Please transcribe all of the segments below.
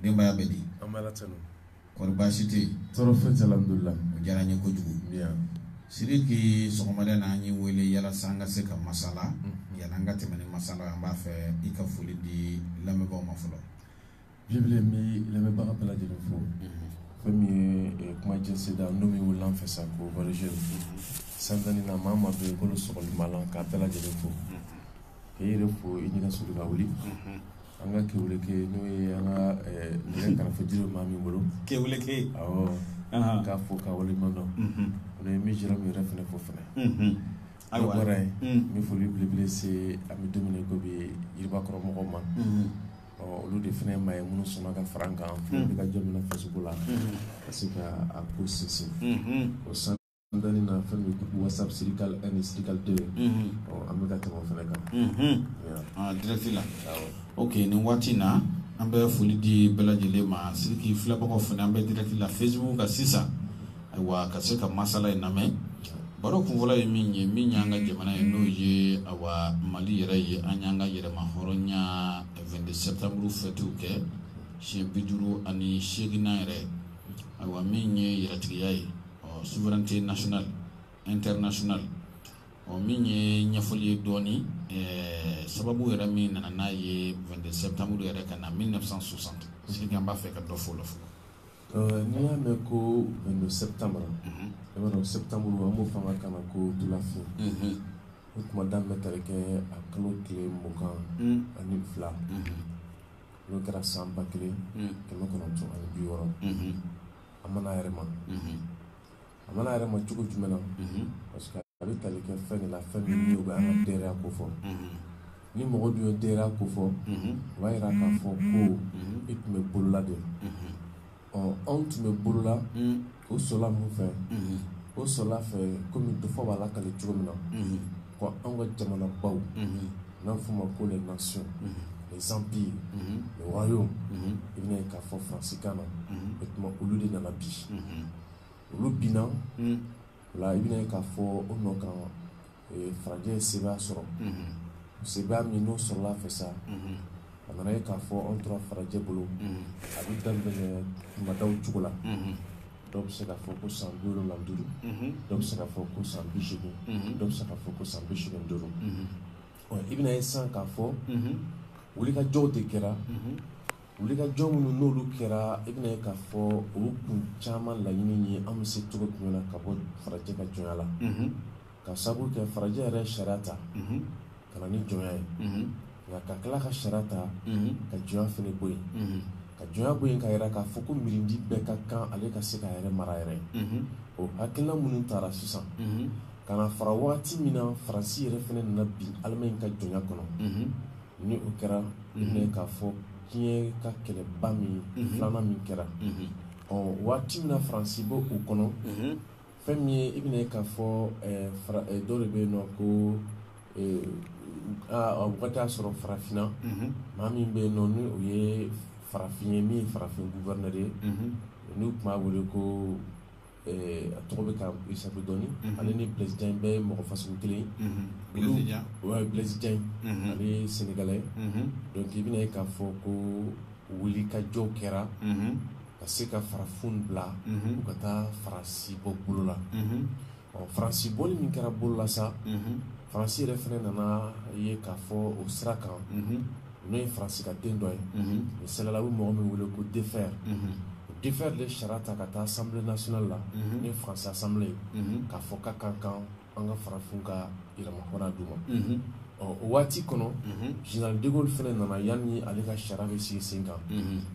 denbaya bɛ di kɔri baasi tɛ yen tɔɔrɔ foyi tɛ alhamdulila o diyara n ye kojugu Sidiki sɔgɔmada na an y'i wele yalasa an ka se ka masala mhm. yanni an ka tɛmɛ ni masala ye an b'a fɛ i ka foli di lamɛnbaaw ma fɔlɔ jibile n bɛ lamɛnbaga bɛɛ lajɛlen fo mhm. fɛn min ye eh, kuma jɛnsida n'o min wulila an fɛ sa ko mhm. san tan ni na maa maa bɛ yen k'olu sɔgɔli b'a la k'a bɛɛ lajɛlen fo k'i yɛrɛ fo i ɲɛna sulu ka wuli an ka kewuleke n'o ye an ka nɛgɛ karafe jiri maa min bolo kewuleke awɔ k'a fo ka waleɲuman dɔn ani n bɛ jira min yɛrɛ fana fo fana ayiwa bɔra yen n bɛ foli belebele se an bɛ dumuni ko bi yiribakɔrɔ mɔgɔw ma olu de fana ye maa ye minnu sɔnna ka fara an kan fo ka jɔn minɛ fasoko la ka se ka a ko sinsin o san An dalen na fɛn min ye whatsapp sirikali 1 ni sirikali 2 unhun ɔ an bɛ ka tɛmɛ o fɛnɛ kan unhun ɲaa aa direct la awɔ ok nin waati in na an bɛ foli di bɛɛ lajɛlen ma Sidiki filɛbagaw fɛnɛ an bɛ direct la Facebook kan sisan ayiwa ka se ka masala in lamɛn baro kunfɔlɔ ye min ye min y'an ka jamana ye n'o ye awa Mali yɛrɛ ye an y'an ka yɛrɛmahɔrɔnya 22 septembre fête kɛ siɲɛ 58nan yɛrɛ ayiwa min ye yɛrɛtigiya ye ɔ souveraineté nationale internationale ɔ min ye ɲɛfɔli ye dɔɔni ɛɛ sababu yɛrɛ min nana n'a ye 22 septembre yɛrɛ ka na 1960 parce que an b'a fɛ ka dɔ fɔ o la fɔlɔ Euh, n'i y'a mɛn ko 22 septembre mhm. i b'a dɔn septembre an b'o fɔ an ka kan na ko tulafin mhm. o tuma daminɛ tali kɛ a kalo tile mugan mhm. ani fila n'o kɛra san ba kelen kɛmɛ kɔnɔntɔn ani bi wɔɔrɔ a mana yɛrɛ ma a mana yɛrɛ ma cogo jumɛn na parce que a bɛ tali kɛ fɛn de la fɛn min bɛ an ka dɛrɛya ko fɔ ni mɔgɔ dun ye dɛrɛya ko fɔ o b'a jira k'a fɔ ko e tun bɛ bolola de ɔ anw tun bɛ bolola o sɔrɔla mun fɛ o sɔrɔla fɛ kɔmi dɔfɔ b'a lakali cogo min na Ko anw ka jamana baw n'an f'u ma ko les nations les empires les royaumes i bɛna ye k'a fɔ Faransi kan na o tuma olu de nana bi olu binna o la i bɛna ye k'a fɔ o nɔ kan farajɛ ye sebaaya sɔrɔ sebaaya min n'o sɔrɔla fɛ sa a nana ye k'a fɔ anw tora farajɛ bolo a bɛ daminɛ madaw cogo la dɔw bɛ se ka fɔ ko san bi wolonwula ni duuru dɔw bɛ se ka fɔ ko san bi segin dɔw bɛ se ka fɔ ko san bi segin duuru i bɛna ye san k'a fɔ wulikajɔw de kɛra wulikajɔ minnu n'olu kɛra i bɛna ye k'a fɔ olu kun caman laɲini ye an bɛ se cogo jumɛn na ka bɔ farajɛ ka jɔnya la ka sabu kɛ farajɛ yɛrɛ sariya ta ka na ni jɔnya ye nka ka tila ka sariya ta ka jɔnya fana bɔ yen ka jɔnya bɔ yen k'a yira k'a fɔ ko mirindi bɛɛ ka kan ale ka se k'a yɛrɛ mara yɛrɛ o hakilina minnu taara sisan ka na fara waati min na faransi yɛrɛ fana nana bin alimaɲi ka jɔnya kɔnɔ ni o kɛra k'a fɔ diɲɛ ka kɛlɛba min filanan min kɛra ɔ waati min na faransi bɔ o kɔnɔ fɛn min ye i bɛna ye k'a fɔ dɔ de bɛ yen nɔ k'o wagati y'a sɔrɔ farafinna maa min bɛ yen nɔ ni o ye farafin ye min farafin gouverneur ye n'u tun b'a wele ko a tɔgɔ bɛ ka isa dɔɔnini ale ni blaise diagne bɛɛ ye mɔgɔ fasɔn kelen blaise diagne a bɛ sɛnɛgali donc i bɛna ye k'a fɔ ko wulikajɔ kɛra ka se ka farafin bila u ka taa faransi bɔ bolo la ɔ faransi bɔli min kɛra bolo la sa faransi yɛrɛ fana nana ye k'a fɔ o sira kan n'o ye faransi ka den dɔ ye o sɛgɛla u bɛ mɔgɔ min wele ko defferre o defferre de sariya ta ka taa assemblée nationale la n'o ye faransi assemblée ye k'a fɔ ka kan k'an an ka farafin ka yɛrɛmafanga d'u ma ɔ o waati kɔnɔ général de gaulle fana nana yan ni ale ka sariya bɛ sigi sen kan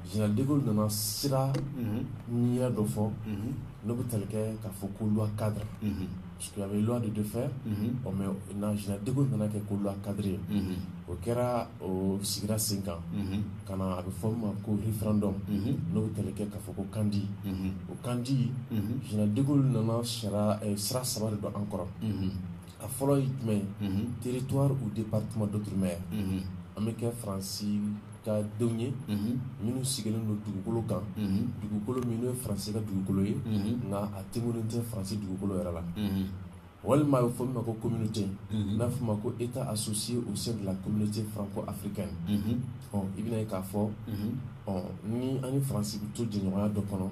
général de gaulle nana sira ni dɔ fɔ n'o bɛ tali kɛ k'a fɔ ko loi cadre parce que a bɛ loi de defferre ɔ mɛ na général de gaulle nana kɛ ko loi cadre ye o kɛra o sigira sen kan ka na a bɛ fɔ min ma ko référendum n'o bɛ tali kɛ k'a fɔ ko kandi kandi général de gaulle nana sira saba de don an kɔrɔ a fɔlɔ ye jumɛn ye territoire ou département d'outre-mer an bɛ kɛ faransi ka denw ye minnu sigilen don dugukolo kan dugukolo minnu ye faransi ka dugukolo ye nka a tɛ minnu tɛ faransi dugukolo yɛrɛ la walima a bɛ fɔ min ma ko communauté mhm. n'a bɛ fɔ ma ko état associé au sein de la communauté franco-africaine mhm. ɔ i bɛna ye k'a fɔ mhm. ɔ ni an ni faransi bɛ to jɛɲɔgɔnya dɔ kɔnɔ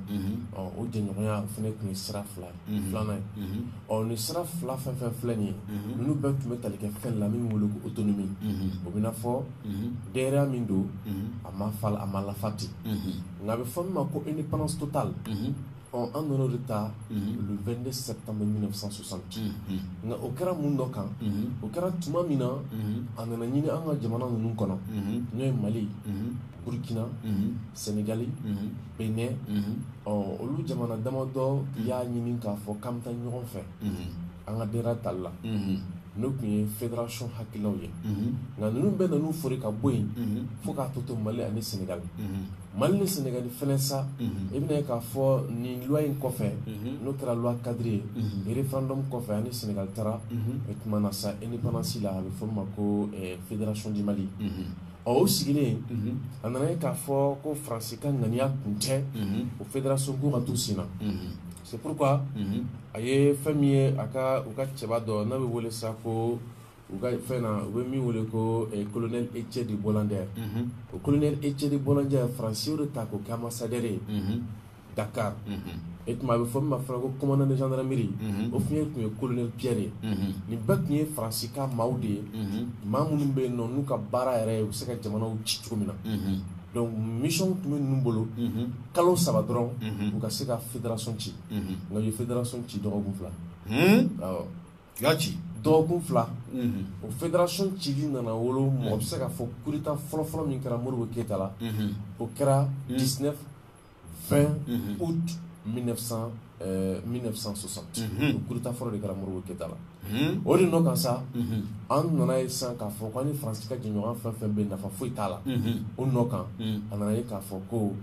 ɔ o jɛɲɔgɔnya fana tun ye sira fila ye filanan ye ɔ nin sira fila fɛn fɛn filɛ nin ye ninnu bɛɛ tun bɛ tali kɛ fɛn la min wele ko autonomie o b'i n'a fɔ yɛrɛya min don a ma fa a ma lafa ten nka a bɛ fɔ min ma ko indépendance totale Ɔ an nana o de ta le vingt-deux septembre mille neuf cent soixante nka o kɛra mun dɔ kan o kɛra tuma min na a nana ɲini an ka jamana ninnu kɔnɔ n'o ye mali burukina sɛnɛgali benɛn ɔ olu jamana damadɔ y'a ɲini k'a fɔ k'an bɛ taa ɲɔgɔn fɛ an ka yɛrɛ tali la n'o tun ye fédération hakilinaw ye nka ninnu bɛɛ nana u foori ka bɔ yen fo k'a tɔ to mali ani sɛnɛgali Mali ni Senegali fana sa, unhun, i bɛna ye k'a fɔ nin loi in kɔfɛ, unhun, n'o kɛra loi cadre ye, unhun, referendum kɔfɛ an ni Senegali taara, unhun, o tuma na sa independance la a bɛ fɔ min ma ko ɛ federation du Mali, unhun, ɔ o sigilen, unhun, a nana ye k'a fɔ ko France ka ŋaniya tun tɛ, unhun, o federation ko ka to senna, unhun, c'est pourquoi unhun, a ye fɛn min ye a ka u ka cɛba dɔ n'a bɛ wele sa ko u ka fɛn na u bɛ min wele ko eh, colonel Hettier de Boislambert mhm. o colonel Hettier de Boislambert faransiw de ta k'o kɛ ambassadeur ye mhm. Dakar mhm. e tuma a bɛ fɔ min ma fana ko commandant de gendarmerie o tun ye tun ye colonel Pierre ye nin bɛɛ tun ye faransi ka maaw de ye maa minnu bɛ yen nɔ n'u ka baara yɛrɛ ye u bɛ se ka jamanaw ci cogo min na donc mission tun bɛ ninnu bolo kalo saba dɔrɔn u ka se ka fédération ci nka u ye fédération ci dɔgɔkun fila awɔ ci dɔgɔkun fila o fédération ci de nana wolo mɔgɔ bɛ se k'a fɔ coup d'Etat fɔlɔfɔlɔ min kɛra modibo keyita la o kɛra 19 20 août 1960 coup d'Etat fɔlɔ de kɛra modibo keyita la o de nɔ kan sa an nana ye sa k'a fɔ k'an ni faransi ka jɛɲɔgɔnya fɛn fɛn bɛ nafa foyi t'a la o nɔ kan a nana ye k'a fɔ ko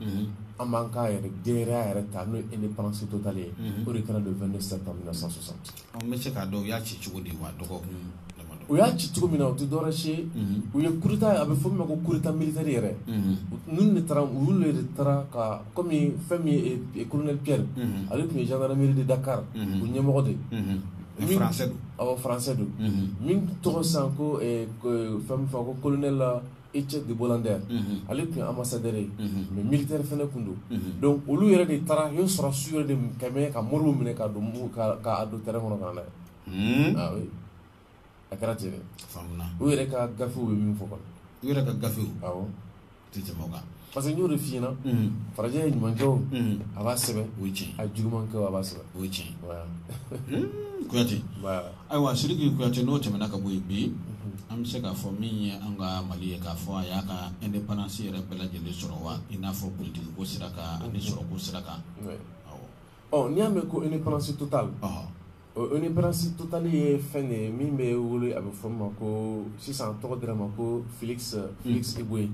an b'an ka yɛrɛ ka yɛrɛ ta n'o ye indépendance totale ye o de kɛra le 22 septembre 1960 An bɛ se k'a dɔn u y'a ci cogo di wa dɔgɔkun damadɔ u y'a ci cogo min na o tɛ dɔwɛrɛ si ye unhun u ye coup d'Etat a bɛ fɔ min ma ko coup d'Etat militaire yɛrɛ unhun ninnu de taara olu de taara ka comme fɛn min ye e colonel Pierre unhun ale tun ye gendarmerie de Dakar unhun o ɲɛmɔgɔ de ye unhun mais min français don awɔ français don unhun min tɔgɔ sisan ko ɛ ɛ fɛn min fɔ ko colonel Hettier de Boislambert ale tun ye ambassadeur mais militaire fana tun don donc olu yɛrɛ de taara o sɔrɔ su yɛrɛ de kɛmɛ ka modibo minɛ k'a don k'a don train kɔnɔ ka na n'a a kɛra ten u yɛrɛ ka gafew bɛ min fɔ u yɛrɛ ka gafe tɛ jama kan parce que n y'o de f'i ɲɛna farajɛ ye ɲuman kɛ o a b'a sɛbɛn o ye tiɲɛ a juguman kɛ o a b'a sɛbɛn o ye tiɲɛ kuyate ayiwa siriki kuyate n'o tɛmɛna ka bɔ yen bi an bɛ se k'a fɔ min ye an ka mali ye k'a fɔ a y'a ka indépendance yɛrɛ bɛɛ lajɛlen sɔrɔ wa i n'a fɔ politiki ko sira kan ani sɔrɔ ko sira kan ɔ n'i y'a mɛn ko indépendance totale indépendance totale ye fɛn ye min bɛ wolo a bɛ fɔ min ma ko sisan tɔgɔ dira ma ko Félix Félix Éboué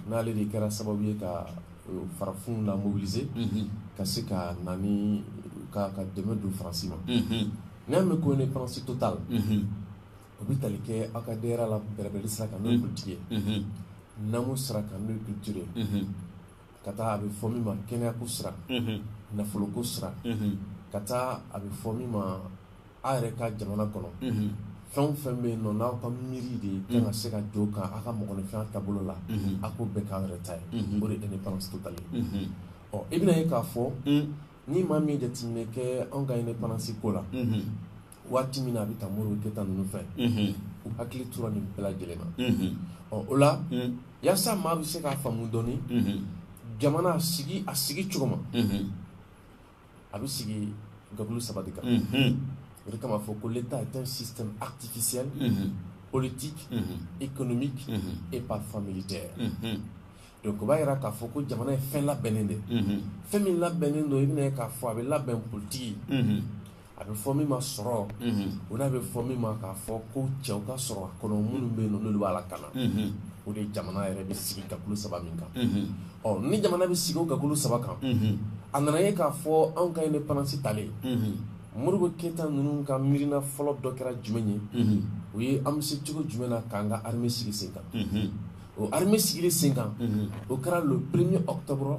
n'ale de kɛra sababu ye ka farafinna mobiliser ka se ka na ka ka dɛmɛ don faransi ma n'i y'a mɛn ko indépendance totale o bɛ tali kɛ aw ka de la bɛrɛbɛrɛli sira kan n'o ye politiki ye namu sira kan n'o ye culture ye ka taa a bɛ fɔ min ma kɛnɛyako sira nafoloko sira ka taa a bɛ fɔ min ma aw yɛrɛ ka jamana kɔnɔ fɛn o fɛn bɛ yen nɔ n'aw ka miiri de ye ka se ka don kan aw ka mɔgɔninfinya taabolo la a ko bɛɛ k'aw yɛrɛ ta ye o de indépendance totale ye ɔ i bɛna ye k'a fɔ ni maa min ye jateminɛ kɛ anw ka indépendance ko la waati min na a bɛ ta Modibo Keyita ninnu fɛ u hakili tora nin bɛɛ lajɛlen na ɔ o la yasa maa bɛ se k'a faamu dɔɔni jamana a sigi a sigi cogo ma a bɛ sigi gakulu saba de kan o de kama fɔ ko l'état est un système artificiel politique économique et parfois militaire donc o b'a jira k'a fɔ ko jamana ye fɛn labɛnnen de fɛn min labɛnnen don i bɛna ye k'a fɔ a bɛ labɛn politiki a bɛ fɔ min ma sɔrɔ o n'a bɛ fɔ min ma k'a fɔ ko cɛw ka sɔrɔ a kɔnɔ minnu bɛ yen n'olu b'a lakana o de jamana yɛrɛ bɛ sigi gakulu saba min kan ɔ ni jamana bɛ sigi o gakulu saba kan a nana ye k'a fɔ anw ka indépendance talen Modibo Keyita ninnu ka miiriina fɔlɔ dɔ kɛra jumɛn ye o ye an bɛ se cogo jumɛn na k'an ka armée sigi sen kan o armée sigili sen kan o kɛra le premier octobre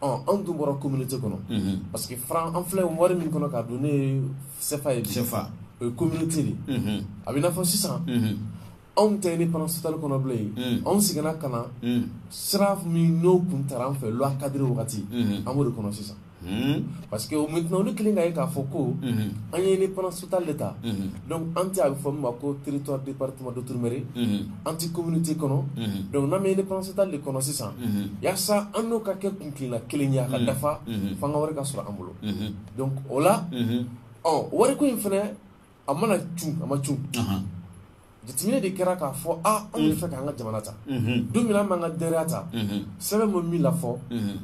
anw tun bɔra communauté kɔnɔ unhun parce que franc an filɛ wari min kɔnɔ k'a don ne ye CFA ye bi CFA o ye communauté de ye unhun a bɛ n'a fɔ sisan unhun anw tɛ indépendance totale kɔnɔ bilen unhun anw seginna ka na unhun sira min n'o kun tara an fɛ loi cadre wagati unhun an b'o de kɔnɔ sisan unhun parce que maintenant olu kelen ka ye k'a fɔ ko unhun an ye indépendance totale de ta unhun donc an tɛ a bɛ fɔ min ma ko territoire département d'outre-mer unhun an tɛ communauté kɔnɔ donc n'an bɛ indépendance totale de kɔnɔ sisan yasa an n'o ka kɛ kuntilenna kelen ye a ka dafa fo an ka wari ka sɔrɔ an bolo donc o la ɔ wariko in fana a mana cun a ma cun jateminɛ de kɛra k'a fɔ a anw bɛ fɛ k'an ka jamana ta don min an b'an ka yɛrɛya ta sɛbɛn bɛ min la fɔ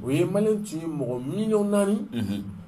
o ye maliyɛn tun ye mɔgɔ miliyɔn naani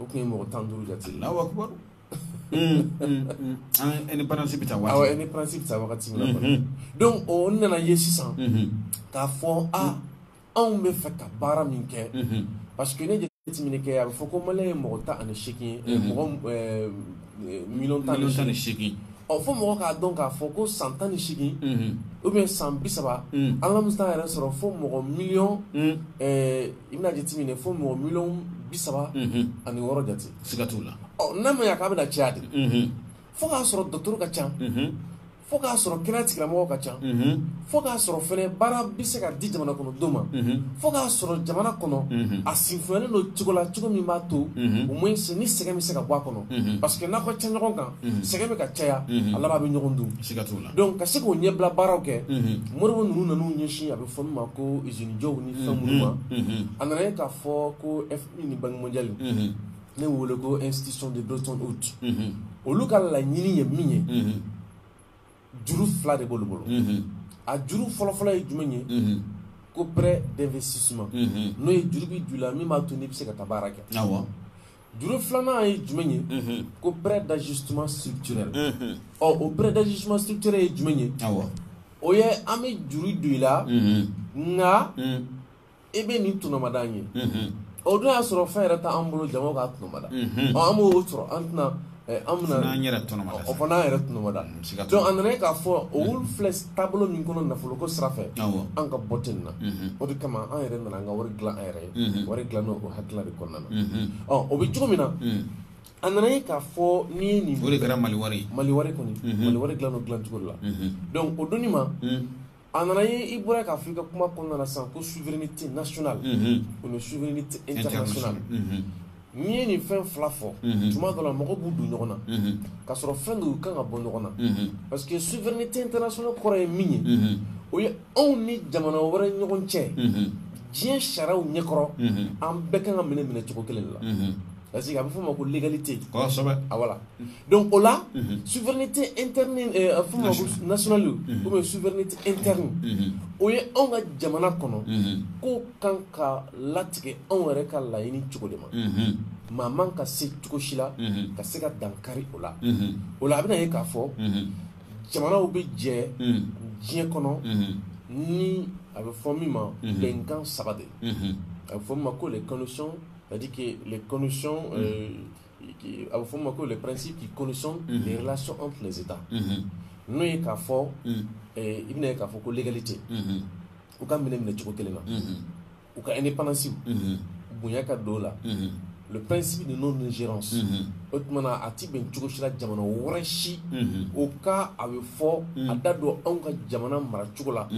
o tun ye mɔgɔ tan duuru jate ye Alahu akibaru indépendance bɛ ta waati awɔ indépendance bɛ ta wagati min na kɔni donc o nana ye sisan k'a fɔ a anw bɛ fɛ ka baara min kɛ parce que n'i ye jateminɛ kɛ a bɛ fɔ ko maliyɛn ye mɔgɔ tan ani seegin ye mɔgɔ miliyɔn tan ni seegin ɔ fo mɔgɔ k'a dɔn k'a fɔ ko san tan ni seegin ou bien san bi saba an ka musa yɛrɛ sɔrɔ fo mɔgɔ miliyɔn i bɛna jate minɛ fo mɔgɔ miliyɔn bi saba ani wɔɔrɔ jate siga t'u la n'a ma ya k'a bɛna caya de fo k'a sɔrɔ dɔgɔtɔrɔ ka ca fo k'a sɔrɔ kɛnɛya tigilamɔgɔw ka ca fo k'a sɔrɔ fɛnɛ baara bɛ se ka di jamana kɔnɔ don ma fo k'a sɔrɔ jamana kɔnɔ a sinfonyalen don cogo la cogo min b'a to au moins se ni sɛgɛn bɛ se ka bɔ a kɔnɔ parce que n'a ka ca ɲɔgɔn kan sɛgɛn bɛ ka caya a laban bɛ ɲɔgɔn dun siga t'u la donc ka se k'o ɲɛbila baaraw kɛ modibo ninnu nan'u ɲɛsin a bɛ fɔ min ma ko izini jɔw ni fɛn minnu ma a nana ye k'a fɔ ko FMI ni Banque mondiale n'u wele ko institutions de Bretton Woods olu ka laɲini ye min ye juru fila de b'olu bolo a juru fɔlɔfɔlɔ ye jumɛn ye ko prêt d'investissement n'o ye juru bɛ don i la min b'a to n'i bɛ se ka taa baara kɛ Juru filanan ye jumɛn ye ko prêt d'ajustement structurel ɔ o prêt d'ajustement structurel ye jumɛn ye o ye an bɛ juru don i la nka e bɛ nin tɔnɔmada n ye o dun y'a sɔrɔ fɛn yɛrɛ t'an bolo janko k'a tɔnɔmada an b'o sɔrɔ an tɛna an bɛna n'an yɛrɛ tɔnɔma o fana an yɛrɛ tɔnɔmada donc a nana ye k'a fɔ olu filɛ taabolo min kɔnɔ nafolo ko sira fɛ an ka bɔ ten na o de kama an yɛrɛ nana an ka wari dilan an yɛrɛ ye wari dilan n'o o hakilila de kɔnɔna na ɔ o bɛ cogo min na a nana ye k'a fɔ n'i ye nin o de kɛra maliwari maliwari kɔni maliwari dilan o dilan cogo la donc o donni ma A nana ye i bɔra k'a fɔ i ka kuma kɔnɔna na sisan ko souveraineté nationale o ni souveraineté internationale n'i ye nin fɛn fila fɔ tuma dɔ la mɔgɔw b'u don ɲɔgɔn na k'a sɔrɔ fɛn don u kan ka bɔ ɲɔgɔn na parce que souveraineté internationale kɔrɔ ye min ye o ye anw ni jamana wɛrɛ ɲɔgɔn cɛ diɲɛ sariyaw ɲɛkɔrɔ an bɛɛ kan ka minɛ minɛ cogo kelen de la parce que a bɛ f'o ma ko l'égalité a voilà Donc o la souveraineté nationale kɔmi souveraineté interne o ye anw ka jamana kɔnɔ ko kan ka latigɛ anw yɛrɛ ka laɲini cogo de ma maa man ka se cogo si la ka se ka dankari o la o la a bɛna ye k'a fɔ jamanaw bɛ jɛ diɲɛ kɔnɔ ni a bɛ fɔ min ma bɛnkan saba de a bɛ fɔ min ma ko de kanu sɔn ka di kɛ le kanu sɔn A bɛ f'o ma ko les principes qui conditionnent les relations entre les États n'o ye k'a fɔ i bɛna ye k'a fɔ ko l'égalité u ka minɛ minɛ cogo kelen na u ka indépendance bonya ka don u la le principe de non-ingérance o tuma na a tɛ bɛn cogo si la jamana wɛrɛ si o ka a bɛ fɔ a da don anw ka jamana mara cogo la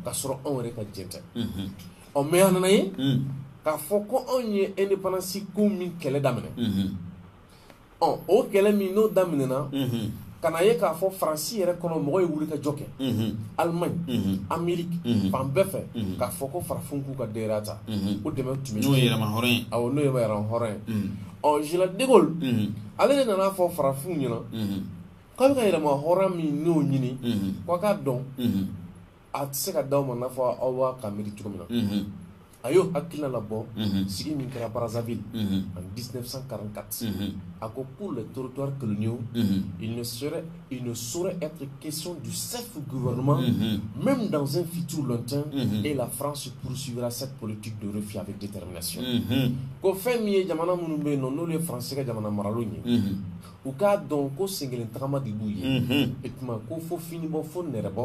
ka sɔrɔ anw yɛrɛ ka jɛ tɛ ɔ mais a nana a ye k'a fɔ ko anw ye indépendance ko min kɛlɛ daminɛ ɔ o kɛlɛ min n'o daminɛna ka na ye k'a fɔ faransi yɛrɛ kɔnɔ mɔgɔ ye wulikajɔ kɛ alimaɲi ameriki fan bɛɛ fɛ k'a fɔ ko farafinw k'u ka droit ta o dɛmɛ tun n'o ye yɛrɛmahɔrɔnya ye awɔ n'o ye yɛrɛmahɔrɔnya ye ɔ général de Gaulle ale de nana a fɔ farafinw ɲɛna k'aw bɛ ka yɛrɛmahɔrɔnya min n'o ɲini k'aw k'a dɔn a tɛ se ka d'aw ma n'a fɔ aw bɛ k'a miiri cogo min na, unhun, a y'o hakilina labɔ, unhun, sigi min kɛra Brazzaville, unhun, en 1944, unhun, a ko pour les territoires coloniaux, unhun, il ne serait il ne saurait être question du self-gouvernement, unhun, même dans un futur lointain, unhun, et la France poursuivra cette politique de refus avec détermination, unhun, ko fɛn min ye jamana minnu bɛ yen nɔ n'olu ye France ka jamana maralenw ye, unhun. u k'a dɔn ko senkelen tagama de b'u ye e tuma ko fo finibɔ fo nɛrɛbɔ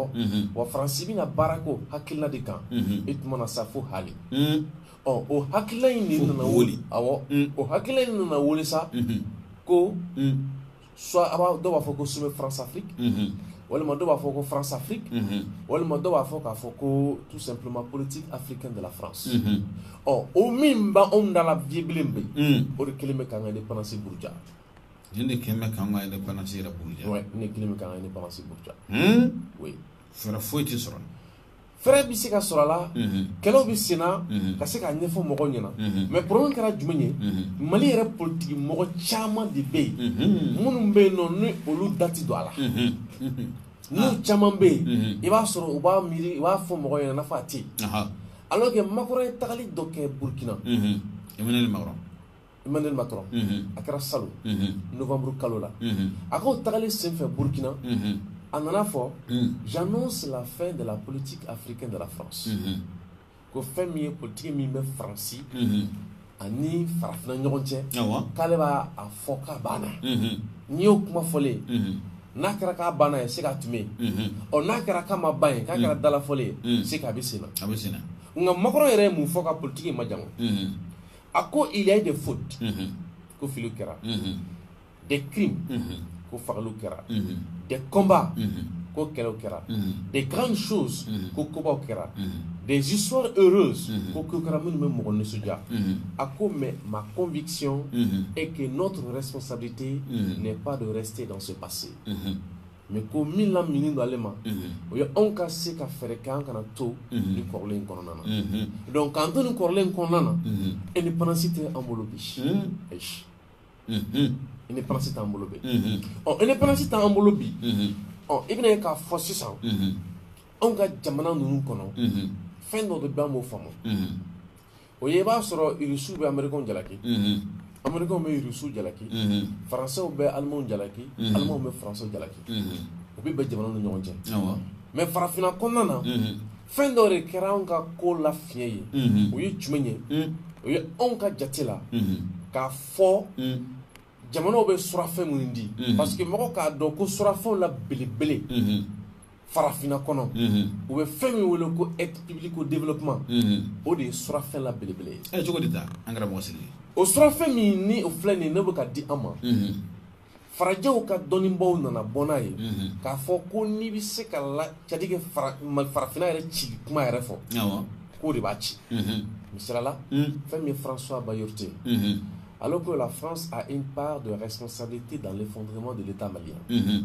wa faransi bɛna baara k'o hakilila de kan e tuma na sa fo hali ɔ o hakilila in de nana wuli awɔ o hakilila in nana wuli sa ko soit a b'a dɔw b'a fɔ ko sommet France Afrique walima dɔw b'a fɔ ko France Afrique walima dɔw b'a fɔ k'a fɔ ko tout simplement politique africaine de la France ɔ o min b'anw da la bi bilen bɛ o de kɛlen bɛ k'an ka indépendance buruja Nin de kɛlen bɛ k'an ka indépendance yɛrɛ buruja, ouais nin de kɛlen bɛ k'an ka indépendance buruja, un, oui fɛɛrɛ foyi tɛ sɔrɔ a la, fɛɛrɛ bɛ se ka sɔrɔ a la, unhun, kɛlɛw bɛ sen na, unhun, ka se k'a ɲɛfɔ mɔgɔw ɲɛna, unhun, mais problème kɛra jumɛn ye, unhun, Mali yɛrɛ politiki mɔgɔ caman de bɛ yen, unhun, minnu bɛ yen nɔ ni olu da tɛ don a la, unhun, unhun, n'u caman bɛ yen, unhun, i b'a sɔrɔ u b'a miiri u b'a fɔ mɔgɔw ɲɛna i n'a fɔ a tɛ yen, anhan, alors que Macron ye tagali dɔ kɛ Burukina, unhun, Emmanuel Macron Emmanuel Macron a kɛra salon novembre kalo la a k'o tagali senfɛ Burkina a nana a fɔ j'annonce la fin de la politique africaine de la France ko fɛn min ye politique min bɛ France ani farafina ɲɔgɔn cɛ k'ale b'a fɔ k'a banna n'i y'o kuma fɔlen ye n'a kɛra k'a banna ye c'est qu'a tun bɛ yen ɔ n'a kɛra k'a ma ban ye k'a kɛra dalafɔlen ye c'est qu'a bɛ senna nka Macron yɛrɛ ye mun fɔ ka politique in majamu. a ko il y a eu des fautes mhm. ko filiw kɛra mhm. des crimes mhm. ko fagaliw kɛra des combats ko kɛlɛw kɛra des grandes choses ko kobaw kɛra des histoires heureuses ko kow kɛra minnu bɛ mɔgɔ nisɔndiya a ko mais ma conviction est que notre responsabilité n'est pas de rester dans ce passé mɛ ko min la min don ale ma o ye anw ka se ka fɛɛrɛ kɛ an kana to ni kɔrɔlen in kɔnɔna na donc k'an to ni kɔrɔlen in kɔnɔna na indépendance tɛ an bolo bi ayi indépendance t'an bolo bi ɔ indépendance t'an bolo bi ɔ i bɛna ye k'a fɔ sisan anw ka jamana ninnu kɔnɔ fɛn dɔ bɛ an b'o faamu o ye i b'a sɔrɔ irisiw bɛ amerikɛnw jalaki amerikɛnw bɛ irisiw jalaki faransɛw bɛ alimaw jalaki alimaw bɛ faransɛw jalaki o bɛɛ bɛ jamana ni ɲɔgɔn cɛ mɛ farafinna kɔnɔna na fɛn dɔ de kɛra anw ka ko la fiɲɛ ye o ye jumɛn ye o ye anw ka jate la k'a fɔ jamanaw bɛ surafɛn minnu di parce que mɔgɔ k'a dɔn ko surafɛnw la belebele farafinna kɔnɔ u bɛ fɛn min wele ko aide publique au développement o de ye surafɛn la belebele ye cogo de an kɛra mɔgɔ sigi o surafɛn min ni o filɛ nin ye bɛ ka di an ma farajɛw ka dɔnnibaw nana bɔ n'a ye k'a fɔ ko n'i bɛ se ka la jatigɛ farafinna yɛrɛ cili kuma yɛrɛ fɔ k'o de b'a ci misali la fɛn min ye françois bayart ye ale ko la france a une part de responsabilité dans l'effondrement de l'état malien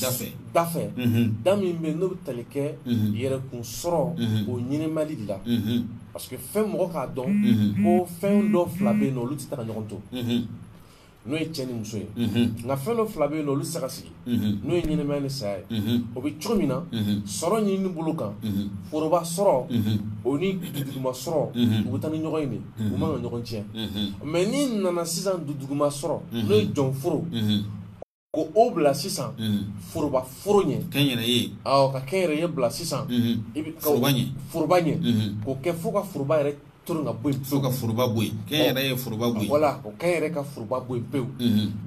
dafɛ dafɛ da min bɛ n'o bɛ tali kɛ yɛrɛkun sɔrɔ o ɲinimali de la parce que fɛn mɔgɔ k'a dɔn ko fɛn dɔ fila bɛ yen olu tɛ taa ɲɔgɔn to n'o ye cɛ ni muso ye nka fɛn dɔ fila bɛ yen olu tɛ se ka sigi n'o ye ɲɛnamaya ni saya ye o bɛ cogo min na sɔrɔ ɲini bolo kan foroba sɔrɔ o ni dunduguma sɔrɔ u bɛ taa ni ɲɔgɔn ye de u man kan ka ɲɔgɔn tiɲɛ mɛ n'i nana sisan dunduguma sɔrɔ n'o ye jɔnforo ko o bila sisan foroba foro ɲɛ kɛnyɛrɛye awɔ ka kɛnyɛrɛye bila sisan i bɛ foroba ɲɛ foroba ɲɛ k'o kɛ fo ka foroba yɛrɛ toro ka bɔ yen fo ka foroba bɔ yen kɛnyɛrɛye foroba bɔ yen wala o kɛ yɛrɛ ka foroba bɔ yen pewu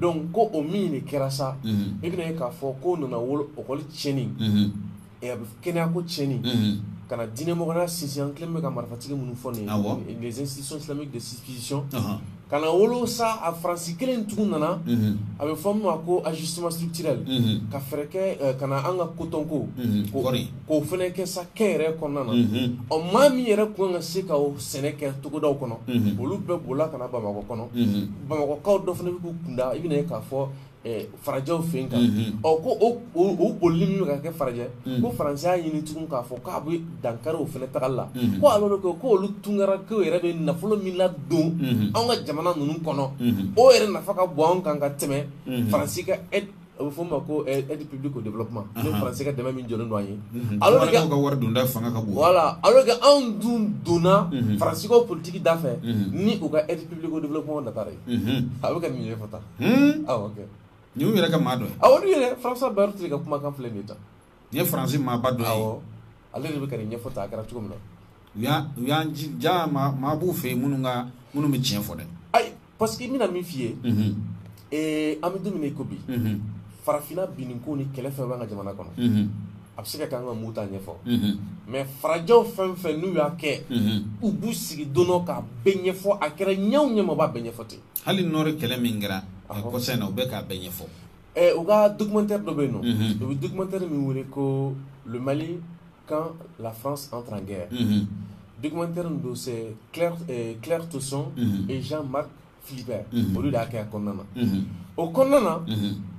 donc ko o min de kɛra sa i bɛna ye k'a fɔ k'o nana wolo ekɔli tiɲɛni Ɛ a bɛ kɛnɛyako tiɲɛni, unhun, ka na diinɛ mɔgɔya sinsin an kɛlen bɛ ka marifatigi minnu fɔ nin ye, awɔ, les institutions islamiques de substitution ɔnhɔn, ka na wolo sa a Faransi kelen in tugun nana, unhun, a bɛ fɔ min ma ko ajustement structurel unhun, ka fɛɛrɛ kɛ ka na an ka kotonko, unhun, kɔɔri, k'o fana kɛ sa kɛnyɛrɛye kɔnɔna na, unhun, ɔ maa min yɛrɛ tun ka kan ka se ka sɛnɛ kɛ togodaw kɔnɔ, unhun, olu bɛɛ bolila ka na Bamakɔ kɔnɔ, unhun, Bamakɔkaw dɔ fana bɛ k'u kun da i bɛna ye k'a fɔ farajɛw fɛ yen kan ɔ ko o bolili min bɛ ka kɛ farajɛ ko faransi y'a ɲini tugun k'a fɔ k'a bɛ dankari o fana tagali la ko a ko ko olu tunkaranke yɛrɛ bɛ nafolo min ladon anw ka jamana ninnu kɔnɔ o yɛrɛ nafa ka bon anw kan ka tɛmɛ faransi ka a bɛ f'o ma ko aide publique au développement ne faransi ka dɛmɛ min jɔlen don an ye ka wari donda fanga ka bon wala a kɛ anw dun donna faransi ka politiki da fɛ ni u ka aide publique au développement da ye a bɛ ka nin ye fata Hmm? Ah, ni yɛrɛ ka maa dɔ ye aw yɛrɛ faransa baro tɛ ka kumakan filɛ nin ta n ye faransi maaba dɔ ye ale de bɛ ka nin ɲɛfɔ tan a kɛra cogo min na u y'an ja maa b'u fɛ yen minnu ka minnu bɛ tiɲɛ fɔ dɛ ayi parce que n bɛna min f'i ye mhm. eh, an bɛ don min na i ko bi mhm. farafinna binni ko ni kɛlɛ fɛn b'an ka jamana kɔnɔ mhm. a bɛ se ka kɛ an ka muta ɲɛfɔ mais farajɛw fɛn fɛn n'u y'a kɛ u b'u sigi don dɔ k'a bɛɛ ɲɛfɔ a kɛra ɲɛ o ɲɛ ma u b'a bɛɛ ɲɛfɔ ten hali nɔri kɛlɛ min kɛra kɔsa in na u bɛ k'a bɛɛ ɲɛfɔ u ka documentaire dɔ bɛ yen nɔ u bɛ documentaire min wele ko le mali quand la france entre en guerre documentaire min don c'est claire euh, claire tesson et jean marc philibert olu de y'a kɛ a kɔnɔna na o kɔnɔna na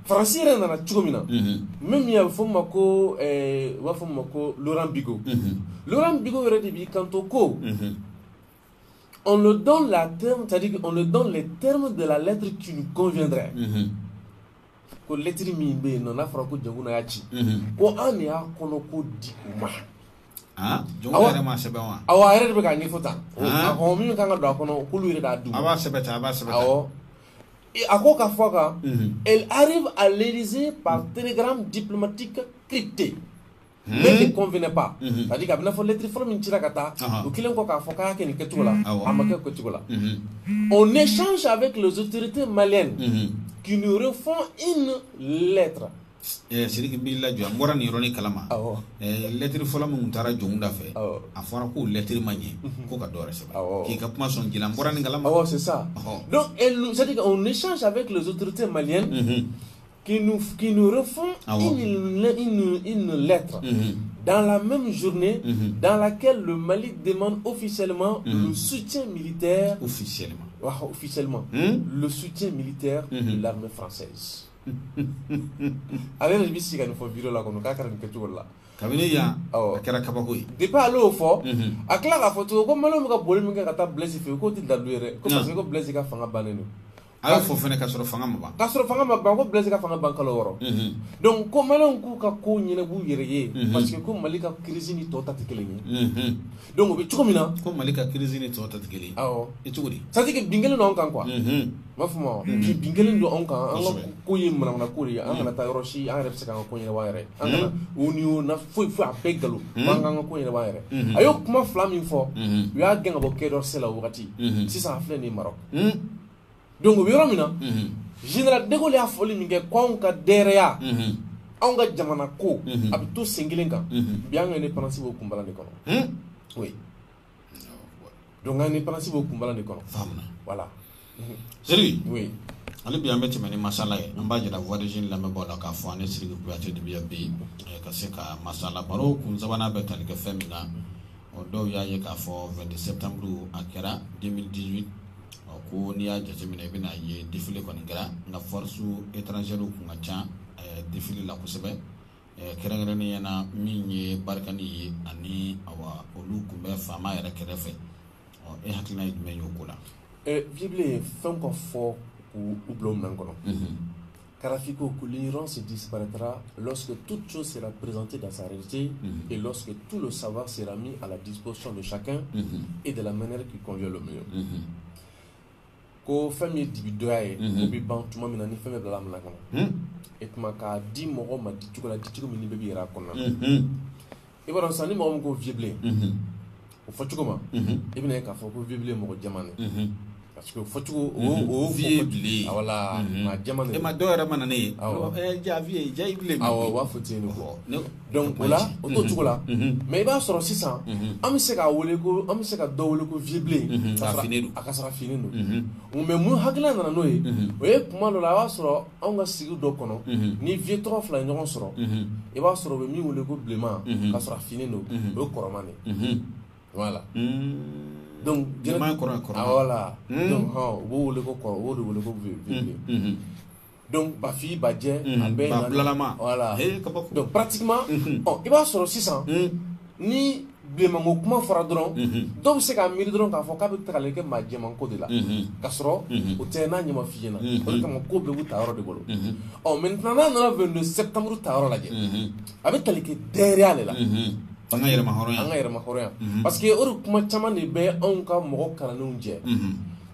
faransi yɛrɛ nana cogo min na min min a bɛ fɔ ma ko u b'a fɔ ma ko laurent bigot laurent bigot yɛrɛ de b'i kanto ko On leur donne les termes, c'est-à-dire qu'on leur donne les termes de la lettre qui nous conviendrait. Mm -hmm. ko lɛtiri min bɛ yen nɔ n'a fɔra ko jɔnkunda y'a ci mhm. ko an de y'a kɔnɔko di u ma ah, jɔnkunda yɛrɛ m'a sɛbɛn wa awɔ a yɛrɛ de bɛ k'a ɲɛfɔ tan ah. ɔ min kan ka don a kɔnɔ k'olu yɛrɛ k'a d'u ma a b'a sɛbɛn tan a b'a sɛbɛn tan awɔ a ko ka fɔ kan mhm. elle arrive à l'Élysée par télégramme diplomatique crypté Hmm. ne nous convenait pas c'est hmm. à dire a bɛn'a fɔ lettre fɔlɔ min cira ka taa o kɛlen kɔ k'a fɔ k'a y'a kɛ nin kɛcogo la a ma kɛ kɛcogo la on échange avec les autorités maliennes hmm. qui nous refont une lettre eh, Sidiki n b'i lajɔ n bɔra nin yɔrɔnin kalama eh, lɛtiri fɔlɔ min tun taara jɔnkunda fɛ a fɔra k'o lɛtiri ma ɲɛ mhm. ko ka dɔ wɛrɛ sɛbɛn k'i ka kuma sɔn ji la n bɔra nin kalama donc c'est ça donc c'est à dire on échange avec les autorités maliennes mhm. qui nous, qui nous refont ah une, une, lettre mhm. dans la même journée mhm. dans laquelle le Mali demande officiellement mhm. le soutien militaire. Officiellement. officiellement. Hmm? Le soutien militaire de l'armée française. Avec le si nous faut virer là, on a là. kabini yan a kɛra kabako ye depuis ale y'o fɔ a tila k'a fɔ tugun ko maliw bɛ ka boli min kɛ ka taa blaise fɛ yen k'o tɛ dalu ye dɛ ko parce que ko blaise ka fanga bannen don a y'o fɔ fana ka sɔrɔ fanga ma ban ka sɔrɔ fanga ma ban ko blaise ka fanga ban kalo wɔɔrɔ mhm. donc ko maliyɛnw k'u ka ko ɲɛnab'u yɛrɛ ye mhm. parce que ko mali ka kirisi ni tɔw ta tɛ kelen ye mhm. donc o bɛ cogo min na ko mali ka kirisi ni tɔw ta tɛ kelen ye awɔ i cogo di c'est à dire que bin kɛlen don anw kan quoi n b'a fɔ ma bi bin kɛlen don anw kan an ka ko ye manamana ko de ye an kana taa yɔrɔ si an yɛrɛ bɛ se k'an ka ko ɲɛnabɔ an yɛrɛ an kana o ni o na foyi foyi a bɛɛ nkalon an k'an ka ko ɲɛnabɔ an yɛrɛ a y'o kuma fila min fɔ u y'a gɛn ka bɔ quai d'Orsay la o wagati sisan a filɛ nin ye Maroc don bɛ yɔrɔ min na général de Gaulle y'a fɔli min kɛ ko anw ka dɛrɛya anw ka jamana ko a bɛ to sen kelen kan bi an ka indépendance b'o kun bala de kɔnɔ o don indépendance b'o kun bala de kɔnɔ wala seli ale bi an bɛ tɛmɛ ni masala ye an b'a jira voisine lamɛnbaaw la k'a fɔ an ni Sidiki Kuyate de bɛ yan bi ka se ka masala baro kun sabanan bɛ tali kɛ fɛn min na ɔ dɔw y'a ye k'a fɔ 22 septembre a kɛra 2018 ɔ ko n'i y'a jateminɛ i bɛna ye défilé kɔni kɛra nka force étrangère kun ka ca eh, défilé la kosɛbɛ eh, kɛrɛnkɛrɛnnenya na min ye Barkhane ye ani awa olu kun bɛ faama yɛrɛ kɛrɛfɛ ɔ e hakilina ye jumɛn ye o ko la. Eh, Viebilen ye fɛn o fɛn fɔ k'u bila o minɛn kɔnɔ. Mhm. Karifiko ko yɔrɔ sen diprara sseke tu tu sera prezte da sare e sseke tu saba sera min a dibo sɔn don sa e de mɛnri k'i kɔn mi ko fɛn min dibi dɔya ye n bɛ ban tuma min na ni fɛn bɛ bila min kɔnɔ e tuma k'a di mɔgɔ ma di cogo la di cogo min bɛ' jira a kɔnɔ i b'a dɔn sisan ni mɔgɔ min ko Viebilen o fɔ cogo ma i bɛna ye k'a fɔ ko Viebilen mɔgɔ jɛman de parce que fɔ cogo o Viebilen wala maa jɛman de e ma dɔw yɛrɛ mana ne ye eh, jaa vieux jaa i bilen awɔ u b'a fɔ ten de donc o la o t'o cogo la mais i b'a sɔrɔ sisan an bɛ se k'a wele ko an bɛ se ka dɔ wele ko Viebilen k'a sɔrɔ a finnen don mais mun hakilila nana n'o ye o ye kuma dɔ la i b'a sɔrɔ anw ka sigi dɔ kɔnɔ ni vieux tɔgɔ fila ɲɔgɔn sɔrɔ i b'a sɔrɔ bɛ min wele ko bilenman k'a sɔrɔ a finnen don o ye kɔrɔma de wala donc jɛnɛma kɔrɔ kɔrɔ wala donc hɔn u b'o wele ko kɔrɔ o de wele ko bilen donc Bafin Bajɛ a bɛɛ na bulalama wala donc pratiquement ɔ i b'a sɔrɔ sisan ni bilenmanko kuma fɔra dɔrɔn dɔw bɛ se k'a miiri dɔrɔn k'a fɔ k'a bɛ tagali kɛ maa jɛmanko de la ka sɔrɔ o tɛ n'a ɲɛma f'i ɲɛna o de kama ko bɛɛ b'u ta yɔrɔ de bolo ɔ mais n'an nana 22 septembre ta yɔrɔ lajɛ a bɛ tali kɛ dɛrɛya de la an ka yɛrɛmahɔrɔnya an ka yɛrɛmahɔrɔnya parce que o de kuma caman de bɛ anw ka mɔgɔ kalannenw jɛ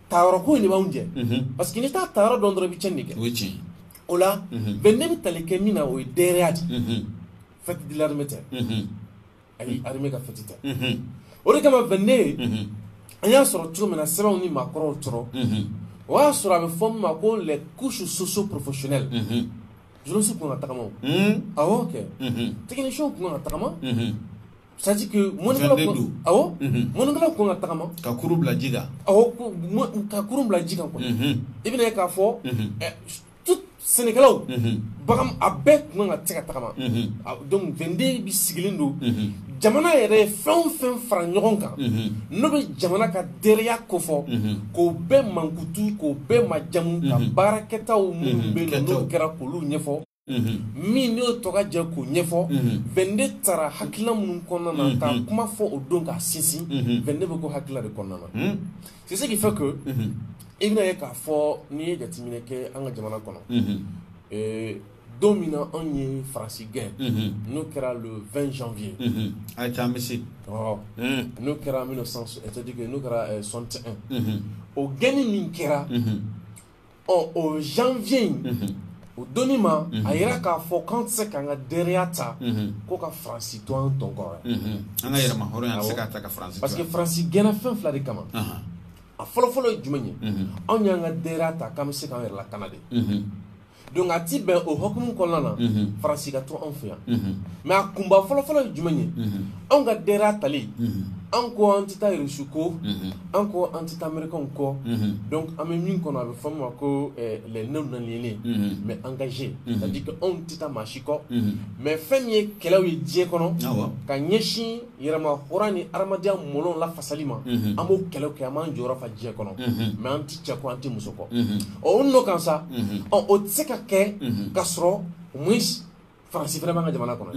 ta yɔrɔ ko in de b'anw jɛ parce que n'i t'a ta yɔrɔ dɔn dɔrɔn i bɛ cɛnni kɛ o ye tiɲɛ ye o la 22 bɛ tali kɛ min na o ye dɛrɛya de fête de l'armée tɛ ani armée ka fête tɛ o de kama 22 an y'a sɔrɔ cogo min na sɛbɛnw ni maakɔrɔw kɔrɔ o y'a sɔrɔ a bɛ fɔ min ma ko les couches socio professionnelles journaliste kun ka tagama o awɔ kɛ technicien kun ka tagama c'est à dire que mɔnikɛlaw kun awɔ mɔnikɛlaw kun ka tagama ka kurun bila ji kan awɔ ka kurun bila ji kan kɔni i bɛna ye k'a fɔ sɛnɛkɛlaw bagan a bɛɛ tun ka tɛ ka tagama donc 22 bɛ sigilen don jamana yɛrɛ fɛn fɛn fara ɲɔgɔn kan n'o bɛ jamana ka dɛrɛya kofɔ k'o bɛɛ mankutu k'o bɛɛ majamu ka baarakɛta minnu bɛ kɛra k'olu ɲɛfɔ min n'o tɔgɔ jɛ k'o ɲɛfɔ 22 tara hakilina minnu kɔnɔna na ka kuma fɔ o don k'a sinsin 22 bɛ ko hakilila de kɔnɔna na C'est ce qui fait que unhun, i bɛna ye k'a fɔ n'i ye jateminɛ kɛ an ka jamana kɔnɔ, unhun, ee, don min na anw ye France gɛn, unhun, n'o kɛra le 20 janvier, unhun, a ye taa an bɛ se, ɔhɔ, un, n'o kɛra 1900 c'est à dire que n'o kɛra 61 unhun, o gɛnni min kɛra, unhun. ɔ o janvier in o don nin b'a yira k'a fɔ k'an tɛ se k'an ka dɛrɛya ta ko ka faransi to an tɔn kɔrɔ an ka yɛrɛmahɔrɔnya an tɛ se k'a ta ka faransi parce que faransi gɛnna fɛn fila de kama a fɔlɔfɔlɔ ye jumɛn ye anw y'an ka dɛrɛya ta k'an bɛ se k'an yɛrɛ lakana de donc a ti bɛn o hukumu kɔnɔna na faransi ka to anw fɛ yan mais a kunba fɔlɔfɔlɔ ye jumɛn ye anw ka dɛrɛya tali an ko an tɛ taa irisi kɔ an ko an tɛ taa ameriki kɔ donc an bɛ min kɔnɔ a bɛ fɔ min ma ko les non-alignés mais engagés c'est à dire que anw tɛ taa maa si kɔ mais fɛn min ye kɛlɛ ye diɲɛ kɔnɔ ka ɲɛsin yɛrɛmahɔrɔnya ni hadamadenya mɔlɔn lafasali ma an b'o kɛlɛ kɛ an b'an jɔyɔrɔ fa diɲɛ kɔnɔ mais an tɛ cɛ kɔ an tɛ muso kɔ ɔ o nɔ kan sa ɔ o tɛ se ka kɛ ka sɔrɔ faransi fana b'an ka jamana kɔnɔ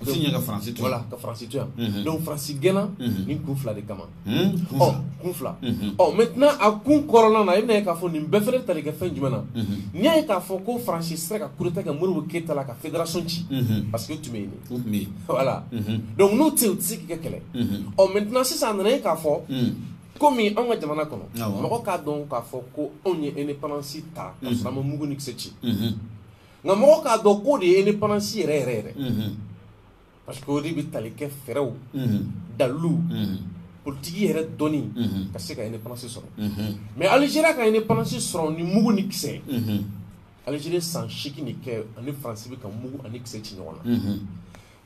fiɲɛ ka faransi to wala ka faransi to yan donc faransi gɛnna nin kun fila de kama ɔ kun fila ɔ maintenant a kun kɔrɔla na i bɛna ye k'a fɔ nin bɛ fana tali kɛ fɛn jumɛn na n'i y'a ye k'a fɔ ko faransi sera ka coup d'état kɛ modibo keyita la ka fédération ci parce que u tun bɛ yen de tun bɛ yen voilà donc n'u tɛ yen u tɛ se k'i kɛ kɛlɛ ɔ maintenant sisan a nana ye k'a fɔ komi anw ka jamana kɔnɔ mɔgɔ k'a dɔn k'a fɔ ko anw ye indépendance ta ka sɔrɔ an ma mugu ni kisɛ ci nka mɔgɔ k'a dɔn k'o de ye indépendance yɛrɛ yɛrɛ yɛrɛ parce que o de bɛ tali kɛ fɛɛrɛw daliluw politiki yɛrɛ dɔnni ka se ka indépendance sɔrɔ mais Algérie ka indépendance sɔrɔ ni mugu ni kisɛ ye Algérie san seegin de kɛ ani France bɛ ka mugu ani kisɛ ci ɲɔgɔn na.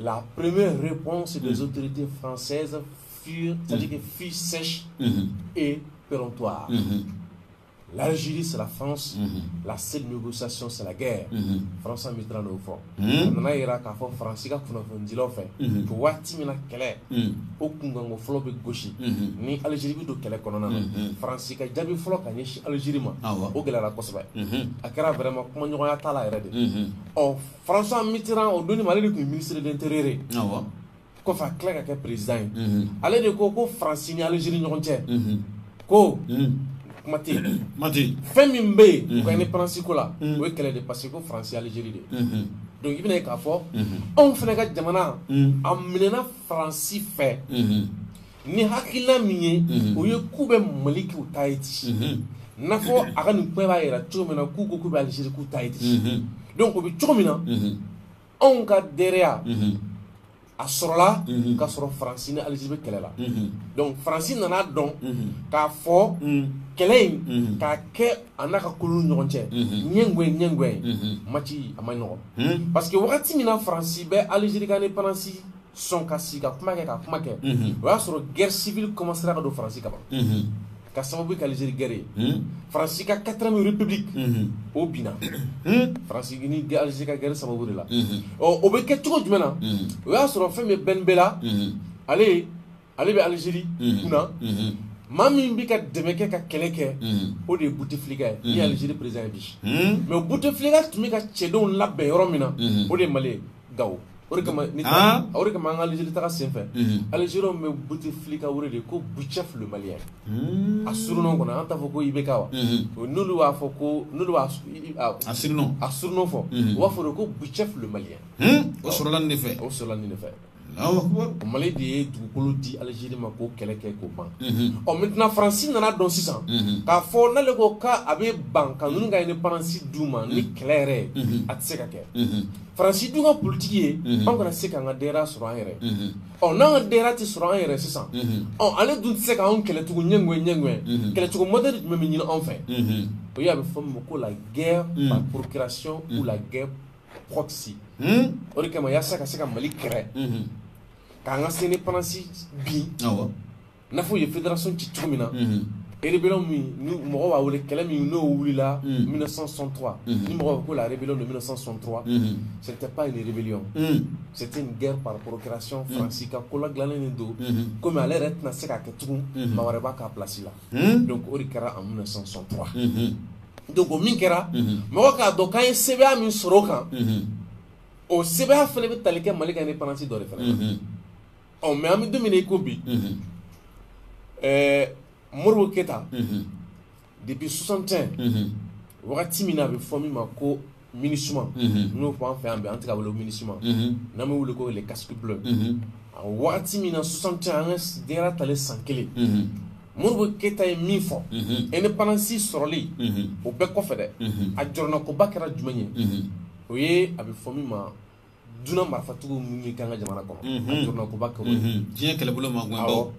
La première réponse des mm. autorités françaises fut, mm. fut sèche mm-hmm. et péremptoire. Mm-hmm. L'Algérie, c'est la France. Mm-hmm. La seule négociation, c'est la guerre. François Mitterrand y'o fɔ. Donc a nana yira k'a fɔ France ka kunnafonidilaw fɛ. Ko waati min na kɛlɛ. O kunkanko fɔlɔ bɛ gosi. Ni Algérie bɛ don kɛlɛ kɔnɔna na. France ka jaabi fɔlɔ ka ɲɛsin Algérie ma. O gɛlɛyara kosɛbɛ. A kɛra vraiment kumaɲɔgɔnya t'a la yɛrɛ de. Ɔ François Mitterrand o donni ma ale de tun ye ministre de l'intérieur ye, awɔ, kɔfɛ a tila ka kɛ président ye, unhun, ale de ko ko France ni Algérie ni ɲɔgɔn cɛ, unhun, ko kuma tɛ yen, kuma tɛ yen, fɛn min bɛ yen, unhun, u ka indépendance ko la, unhun, o ye kɛlɛ de ye parce que ko France ye Algérie de ye, unhun, donc i bɛna ye k'a fɔ, unhun, anw fana ka jamana, unhun, a minɛna France fɛ, unhun. ni hakilila min ye mhm. o ye k'u bɛ mali k'u ta ye ti mhm. n'a fɔ a ka nin kuma b'a yira cogo min na k'u ko k'u bɛ alizeri k'u ta ye ti mhm. donc o bɛ cogo min na anw ka droit a sɔrɔla ka sɔrɔ faransi ni alizeri bɛ kɛlɛ la donc faransi nana dɔn k'a fɔ kɛlɛ in k'a kɛ a n'a ka koloni ɲɔgɔn cɛ ɲɛngɔɛ ɲɛngɔɛ mati a man nɔgɔn parce que wagati min na faransi bɛ alizeri ka indépendance sɔn ka sigi ka kuma kɛ ka kuma kɛ o y'a sɔrɔ guerre civile commencera ka don faransi kaban ka sababu kɛ Algérie guerre ye faransi ka quatrième république o binna faransi ni Algérie ka guerre sababu de la ɔ o bɛ kɛ cogo jumɛn na o y'a sɔrɔ fɛn min bɛ Ben Bella ale ale bɛ aliziri kunna maa min bɛ ka dɛmɛ kɛ ka kɛlɛ kɛ o de ye buteflika ye ni aliziri président ye bi mais buteflika tun bɛ ka cɛdenw labɛn yɔrɔ min na o de mali gao o de kama an ka aliziri taga senfɛ aliziri bɛ buteflika de ko boutef le malien a surnom kɔnɔ an t'a fɔ ko IBK wa n'olu b'a fɔ ko a s a surnom fɔ u b'a fɔ ko boutef le malien o sɔrɔla de fɛ o sɔrɔla de fɛ Mali de ye dugukolo di aliziri ma k'o kɛlɛ kɛ k'o ban ɔ maintenant faransi nana dɔn sisan k'a fɔ n'ale ko k'a bɛ ban ka ninnu ka indépendance d'u ma ni kɛlɛ yɛrɛ a tɛ se ka kɛ faransi dun ka politiki ye an kana se k'an ka droit sɔrɔ an yɛrɛ ɔ n'an ka droit tɛ sɔrɔ an yɛrɛ sisan ɔ ale dun tɛ se k'an kɛlɛcogo ɲɛ ɲɛ kɛlɛcogo modɛli jumɛn bɛ ɲini anw fɛ o y'a bɛ fɔ min ma ko la guerre par procuration la guerre proxy hmm? o de kama yasa ka se ka mali kɛlɛ mhm. k'an ka indépendance bin n'a fɔ u ye fédération ci cogo min na mhm. rébellion min ni mɔgɔ b'a wele kɛlɛ min n'o wulila 1963 mhm. ni mɔgɔ bɛ ko la rébellion de 1963 c'était pas une rébellion c'était une guerre par procuration faransi ka ko ladilannen de don komi ale yɛrɛ tɛna se k'a kɛ tugun maa wɛrɛ b'a k'a place la don o de kɛra an minɛ sɔn sɔn don min kɛra mɔgɔ k'a dɔn k'a ye se min sɔrɔ o kan o se fana bɛ tali kɛ mali ka ni pansi dɔ de fana ɔ mɛ an bɛ dumuni i ko bi ɛɛ mori keyita debi sonsant wagati min na a bɛ fɔ min ma ko MINUSMA n'o fɔ an fɛ yan bi an tɛ k'a wele MINUSMA n'an b'a wele ko les casques bleus a waati min na soixante cɛ an ka denyɛrɛya talen san kelen Modibo Keyita ye min fɔ indépendance sɔrɔli o bɛɛ kɔfɛ dɛ a jɔrɔnakoba kɛra jumɛn ye o ye a bɛ fɔ min ma dunan marifatigiw minnu bɛ k'an ka jamana kɔnɔ a jɔrɔnakoba kɛra o ye diɲɛ kɛlɛbolo mankanbaw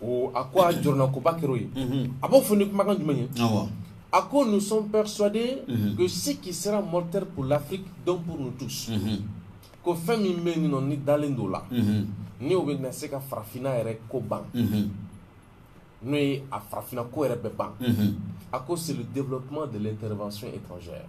awɔ a ko a jɔrɔnakoba kɛra o ye a b'o fɔ ni kumakan jumɛn ye awɔ a ko nous sommes persuadés que ce qui sera mortel pour l'Afrique donc pour nous tous ko fɛn min bɛ yen nɔ ne dalen don o la ni o bɛ na se ka farafinna yɛrɛ ko ban n'o ye a farafinna ko yɛrɛ bɛ ban a ko c'est le développement de l'intervention étrangère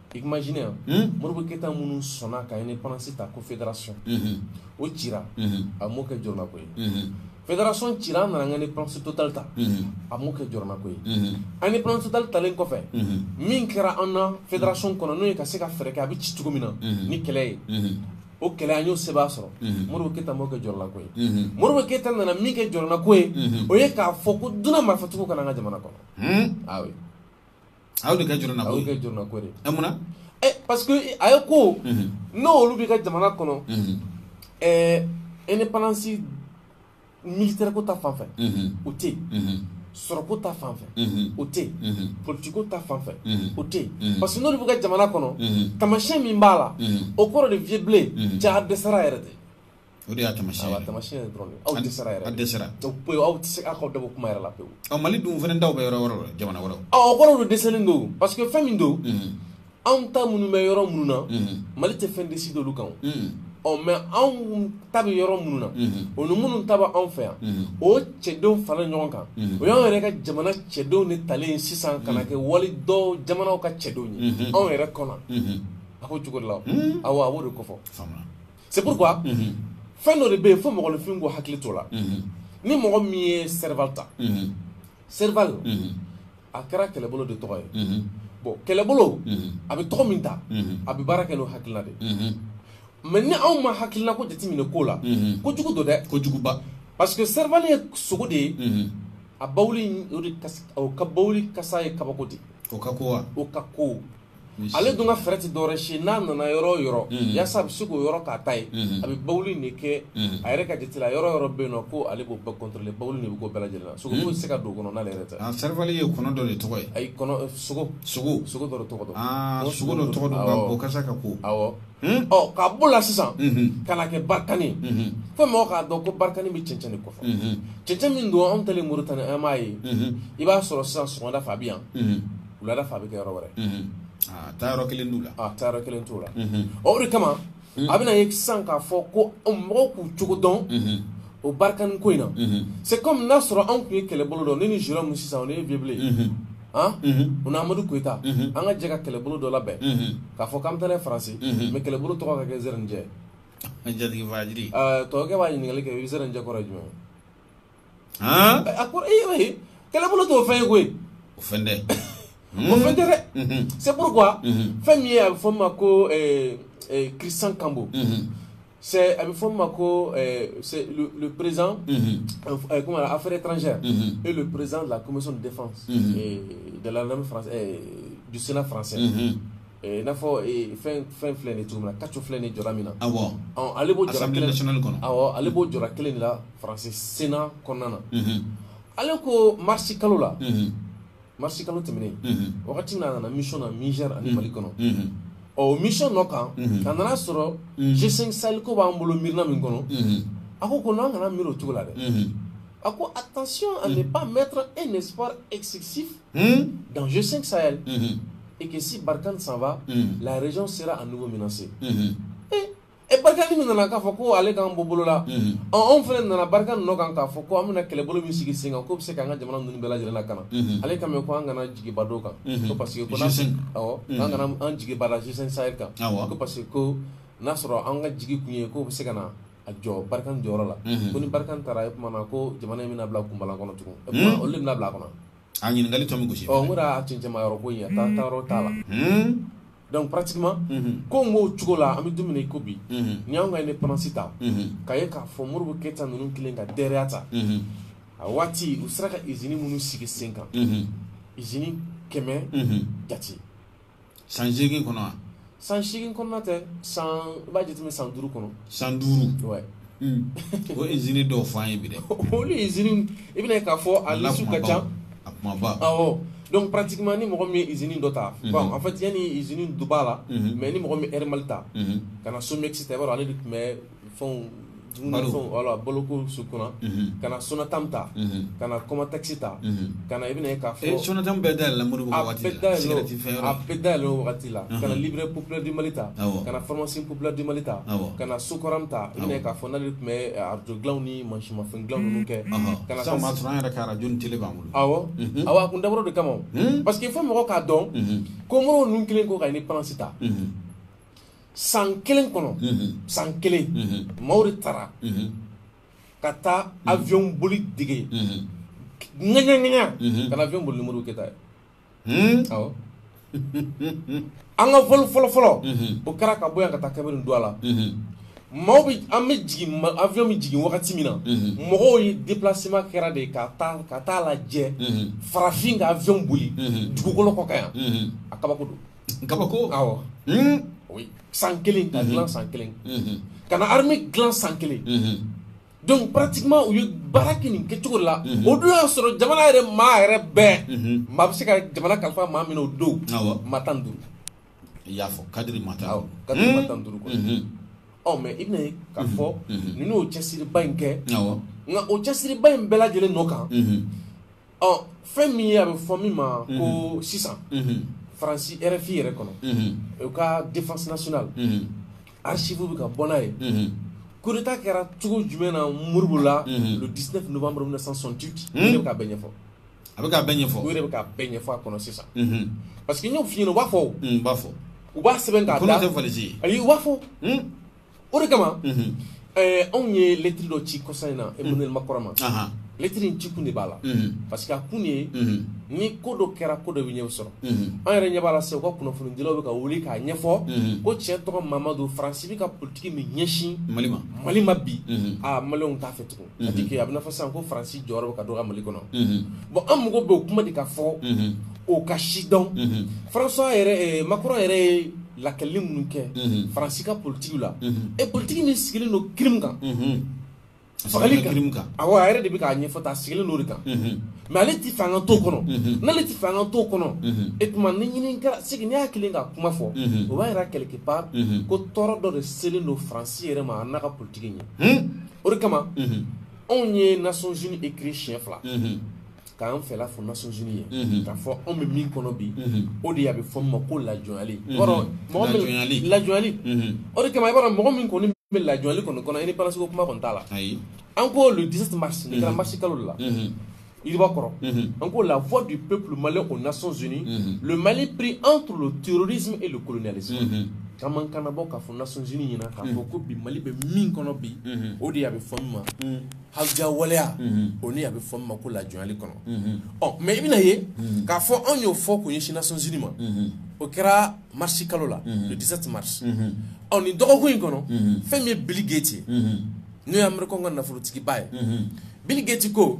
i imagine yan hmm? Modibo Keyita minnu sɔnna ka indépendance ta ko fédération mhm. o cira mhm. a m'o kɛ jɔrɔnako ye mhm. fédération cira an nana an ka indépendance totale ta a m'o kɛ jɔrɔnako ye an indépendance totale talen kɔfɛ min kɛra an na fédération kɔnɔ n'o ye ka se ka fɛɛrɛ kɛ a bɛ ci cogo min na ni kɛlɛ ye o kɛlɛ an y'o sɛbɛn sɔrɔ mhm. Modibo Keyita m'o kɛ jɔrɔnako ye mhm. Modibo Keyita nana min kɛ jɔrɔnako ye mhm. o ye k'a fɔ ko dunan marifatigiw ka na an ka jamana kɔnɔ awi a y'o de kɛ jɔrɔnako ye a y'o kɛ jɔrɔnako de ye ɛ munna ɛ parce que a ye ko n'olu bɛ ka jamana kɔnɔ ɛɛ indépendance militaire ko ta fanfɛ o tɛ yen sɔrɔko ta fan fɛ o tɛ yen politiko ta fan fɛ o tɛ yen parce que n'olu bɛ ka jamana kɔnɔ tamasiyɛn min b'a la o kɔrɔ de vieux Blé k'aw dɛsɛra yɛrɛ de o de y'a tamasiyɛn ye tamasiyɛn ye dɔrɔn aw dɛsɛra yɛrɛ a dɛsɛra pewu aw tɛ se aw ka dɔ bɔ kuma yɛrɛ la pewu ɔ mali dun fana taw bɛ yɔrɔ wɛrɛ la jamana wɛrɛw ɔ o kɔrɔ don dɛsɛlen don parce que fɛn min don anw ta minnu bɛ yɔrɔ minnu na mali tɛ fɛn décider olu kan ɔ mɛ anw ta bɛ yɔrɔ minnu na o ni minnu ta bɛ anw fɛ yan o cɛdenw fara ɲɔgɔn kan o y'anw yɛrɛ ka jamana cɛdenw de talen sisan ka na kɛ wali dɔw jamanaw ka cɛdenw ye anw yɛrɛ kɔnɔ a ko cogo de la awa a b'o de kofɔ c'est pourquoi fɛn dɔ de bɛ yen fo mɔgɔninfin k'u hakili to la ni mɔgɔ min ye Serval ta Serval a kɛra kɛlɛbolo de tɔgɔ ye bon kɛlɛbolo a bɛ tɔgɔ min ta a bɛ baara kɛ n'o hakilila de mɛ ni anw ma hakilila ko jateminɛ k'o la ko jugu don dɛ ko juguba parce que Serval ye sogo de ye a bawuli o ka bawuli kasa ye kabako de o ka ko wa o ka ko ale dun ka fɛɛrɛ tɛ dɔwɛrɛ si n'a nana yɔrɔ o yɔrɔ yasa a bɛ se k'o yɔrɔ k'a ta ye a bɛ bawuli in de kɛ a yɛrɛ ka jate la yɔrɔ o yɔrɔ bɛ yen nɔ ko ale b'o bɛɛ contrôler bawuli de bɛ k'o bɛɛ lajɛlen na sogo foyi tɛ se ka don o kɔnɔ n'ale yɛrɛ tɛ a Serval ye kɔnɔ dɔ de tɔgɔ ye ayi kɔnɔ sogo sogo sogo dɔ de tɔgɔ don aa sogo dɔ tɔgɔ don nka o kasa ka ko awɔ ɔ ka bɔ o la sisan ka na kɛ Barkhane ye fo mɔgɔw k'a dɔn ko Barkhane bɛ cɛncɛn de kofɔ cɛncɛn min don anw taalen Moritani an b'a ye i b'a sɔrɔ sisan sɔgɔmada fɛ a bɛ yan wulada fa bɛ kɛ yɔrɔ wɛrɛ taa yɔrɔ kelen la taa yɔrɔ kelen t'o la o de kama a bɛna ye san k'a fɔ ko mɔgɔw k'u cogo dɔn o barikani ko in na c'est comme n'a sɔrɔ anw tun ye kɛlɛbolo dɔ ne ni sula mu sisan o ne ye Vieux Blen u n' amadu koyita an ka jɛ ka kɛlɛbolo dɔ labɛn k'a fɔ k'an taara faransi mɛ kɛlɛbolo tɔgɔ ka kɛ zjɛ tɔgɔkɛ b'a ɲininkali kɛ i bɛ zjɛ kɔrɔ jumɛn han a ko ee eh, eh, kɛlɛbolo t'o fɛn ye koyi o fɛn tɛ o fɛn tɛ dɛ c'est pourquoi fɛn min ye a bɛ fɔ min ma ko eh, Christian Cambon c'est a bɛ fɔ min ma ko c'est le, le président euh, comment affaires étrangères et le président de la commission de défense du sénat français Eh, n'a fɔ eh, fɛn fɛn filɛ nin ye cogo min na kaco filɛ nin ye jɔyɔrɔ min na awɔ ale b'o jɔyɔrɔ kelen kɔnɔ awɔ ale b'o jɔyɔrɔ kelen de la faransi sena kɔnɔna na ale ko marisi kalo la marisi kalo tɛmɛnen wagati min a nana mission na niger ani mali kɔnɔ o mission nɔ kan a nana a sɔrɔ g5 sahel ko b'an bolo miirina min kɔnɔ a ko ko an kana miiri o cogo la dɛ a ko attention à ne pas mettre un espoir excessif dans g5 sahel et que si Barkhane s'en va la région sera à nouveau menacée e barikani min nana k'a fɔ ko ale k'an bɔ bolo la mhm. anw fana nana barikani nɔ kan k'a fɔ ko an bɛna kɛlɛbolo min sigi sen kan k'o bɛ se k'an ka jamana ninnu bɛɛ lajɛlen lakana mhm. ale k'an ma ko an kana jigiba da o kan mhm. ko parce que ko awɔ an kana an jigiba da G5 Sahel kan ko parce que ko n'a sɔrɔ an ka jigi kun ye k'o bɛ se ka na jɔ barikani jɔyɔrɔ la ko ni barikani taara e kumana ko jamana in bɛna bila kunbalan kɔnɔ tugun e kuma olu de bɛna bila a kɔnɔ a ɲininkali tɔ min gosi ɔ n ko a cɛncɛnmayɔrɔ ko in a taa yɔrɔ t'a la Donc pratiquement ko b'o cogo la an bɛ don min na i ko bi n'i y'an ka indépendance ta ka ye k'a fɔ modibo keyita ninnu kɛlen ka d ta a waati u sera ka izini minnu sigi sen kan izini kɛmɛ jate san segin kɔnɔ san segin kɔnɔ tɛ sa i b'a jate san duuru kɔnɔ san duuru o izini dɔw fɔ ye olu izini i bɛna k'a fɔ a lasiw ka ca a kuma ba ɔ donc pratiquement ni mɔgɔ min ye izini dɔ ta bon en fait ni izini duba la mɛ ni mɔgɔ min ye Air Mali ta ka na SOMIEX ta i b'a sɔrɔ ale de tun bɛ fɛnw balo kow kunna ka na SONATAM ta ka na COMATEX ta ka i bɛna ka fɔ so bɛɛ da la bɛɛ da yɛlɛ wagati la ka librairie populaire du mali ta ka na pharmacie populaire du mali ta ka na SOCORAM ta ka fɔ o tun bɛ arajow ni masinmafɛn dilan ninnu kɛ ka na taa ma sɔrɔ an yɛrɛ ka arajo ni tele b'an bolo awɔ awɔ a kun dabɔra o de kama parce que il faut mɔgɔ k'a dɔn ko modibo ninnu kɛlen kɔ ka indépendance ta san kelen kɔnɔ san kelen maaw de taara ka taa avion boli dege ŋɛɲɛ ŋɛɲɛ ka na avion boli ni modibo keyita ye Hmm? an ka fɔlɔ fɔlɔ fɔlɔ mhm. o kɛra ka bɔ yan ka taa kabini don a la mhm. maaw bɛ an bɛ jigin avion bɛ jigin wagati min na mhm. mɔgɔw ye déplacement kɛra de ka taa ka taa lajɛ farafin ka avion boli dugukolo kɔ kan yan a kabako don kabako awɔ hmm? san kelen ka dilan san kelen ka na armée dilan san kelen Donc pratiquement u ye baara kɛ nin kɛcogo la o don y'a sɔrɔ jamana yɛrɛ maa yɛrɛ bɛɛ maa bɛ se ka jamana kalifa maa min na o don maa tan duuru i y'a fɔ cadre ma taa ka tan duuru ɔ mais i bɛna ye k'a fɔ ninnu y'o cɛsiriba in kɛ nka o cɛsiriba in bɛɛ lajɛlen nɔ kan ɔ fɛn min ye a bɛ fɔ min ma ko mhm. sisan mhm. faransi rfi yɛrɛ kɔnɔ mhm. u ka défense nationale archive bɛ ka bɔ n'a ye coup d'état kɛra cogo jumɛn na Modibo la le 19 novembre 1968 ne bɛ k'a bɛɛ ɲɛfɔ a bɛ k'a bɛɛ ɲɛfɔ u yɛrɛ bɛ k'a bɛɛ ɲɛfɔ a kɔnɔ sisan parce que n y'o f'i ɲɛna u b'a fɔ o u b'a fɔ u b'a sɛbɛn k'a da ayi u b'a fɔ o de kama anw ye lɛtri dɔ ci kɔsa in na Emmanuel Macron ma lɛtri in ci kun de b'a la parce que a kun ye ni ko dɔ kɛra ko dɔ bɛ ɲɛ sɔrɔ an yɛrɛ ɲɛ b'a la se u ka kunnafonidila bɛ ka wuli k'a ɲɛfɔ ko tiɲɛ tɔgɔ Mamadu faransi bɛ ka politigi min ɲɛsin mali ma mali ma bi aa mali t'a fɛ tugun a tɛ kɛ a bɛ fɔ sisan ko faransi jɔyɔrɔ bɛ ka dɔgɔya mali kɔnɔ bon an mago bɛ o kuma de ka fɔ o ka président fara yɛrɛ Macron yɛrɛ ye lakɛli minnu kɛ faransi ka politigi la e politigi min sigilen don crime kan fagali kan a a yɛrɛ de bɛ k'a ɲɛfɔta a sigilen don de kan mais ale tɛ fanga to kɔnɔ n'ale tɛ fanga to kɔnɔ e tuma ni ɲini kɛra sigi ne y'a kelen ka kuma fɔ o b'a jira quelque part ko tɔɔrɔ dɔ de selen don faransi yɛrɛ ma a n'a ka politigi ɲɛ o de kama anw ye Nations Unies écrit siɲɛ fila k'an fɛla fɔ Nations Unies ye k'a fɔ anw bɛ min kɔnɔ bi o de ye a bɛ fɔ min ma ko lajɔnyali i b'a dɔn mɔgɔ min lajɔnyali o de kama i b'a dɔn mɔgɔ min kɔni bɛ lajɔnyali kɔni kɔnɔ indépendance ko kuma kɔni t'a la an ko le 17 mars nin kɛra mars kalo de la yiriba kɔrɔ an ko la voix du peuple malien aux Nations Unies le Mali pris entre le terrorisme et le colonialisme k'an mankan labɔ k'a fɔ Nations Unies ɲɛna k'a fɔ ko bi Mali bɛ min kɔnɔ bi o de ye a bɛ fɔ min ma hawuja waleya o ni a bɛ fɔ min ma ko lajɔnyali kɔnɔ ɔ mais i bɛna ye k'a fɔ anw y'o fɔ k'o ɲɛsin Nations Unies ma o kɛra marisi kalo la le 17 mars ɔ nin dɔgɔkun in kɔnɔ fɛn min ye Bill Gates ye n'o ye amerikɛnw ka nafolotigiba ye Bill Gates ko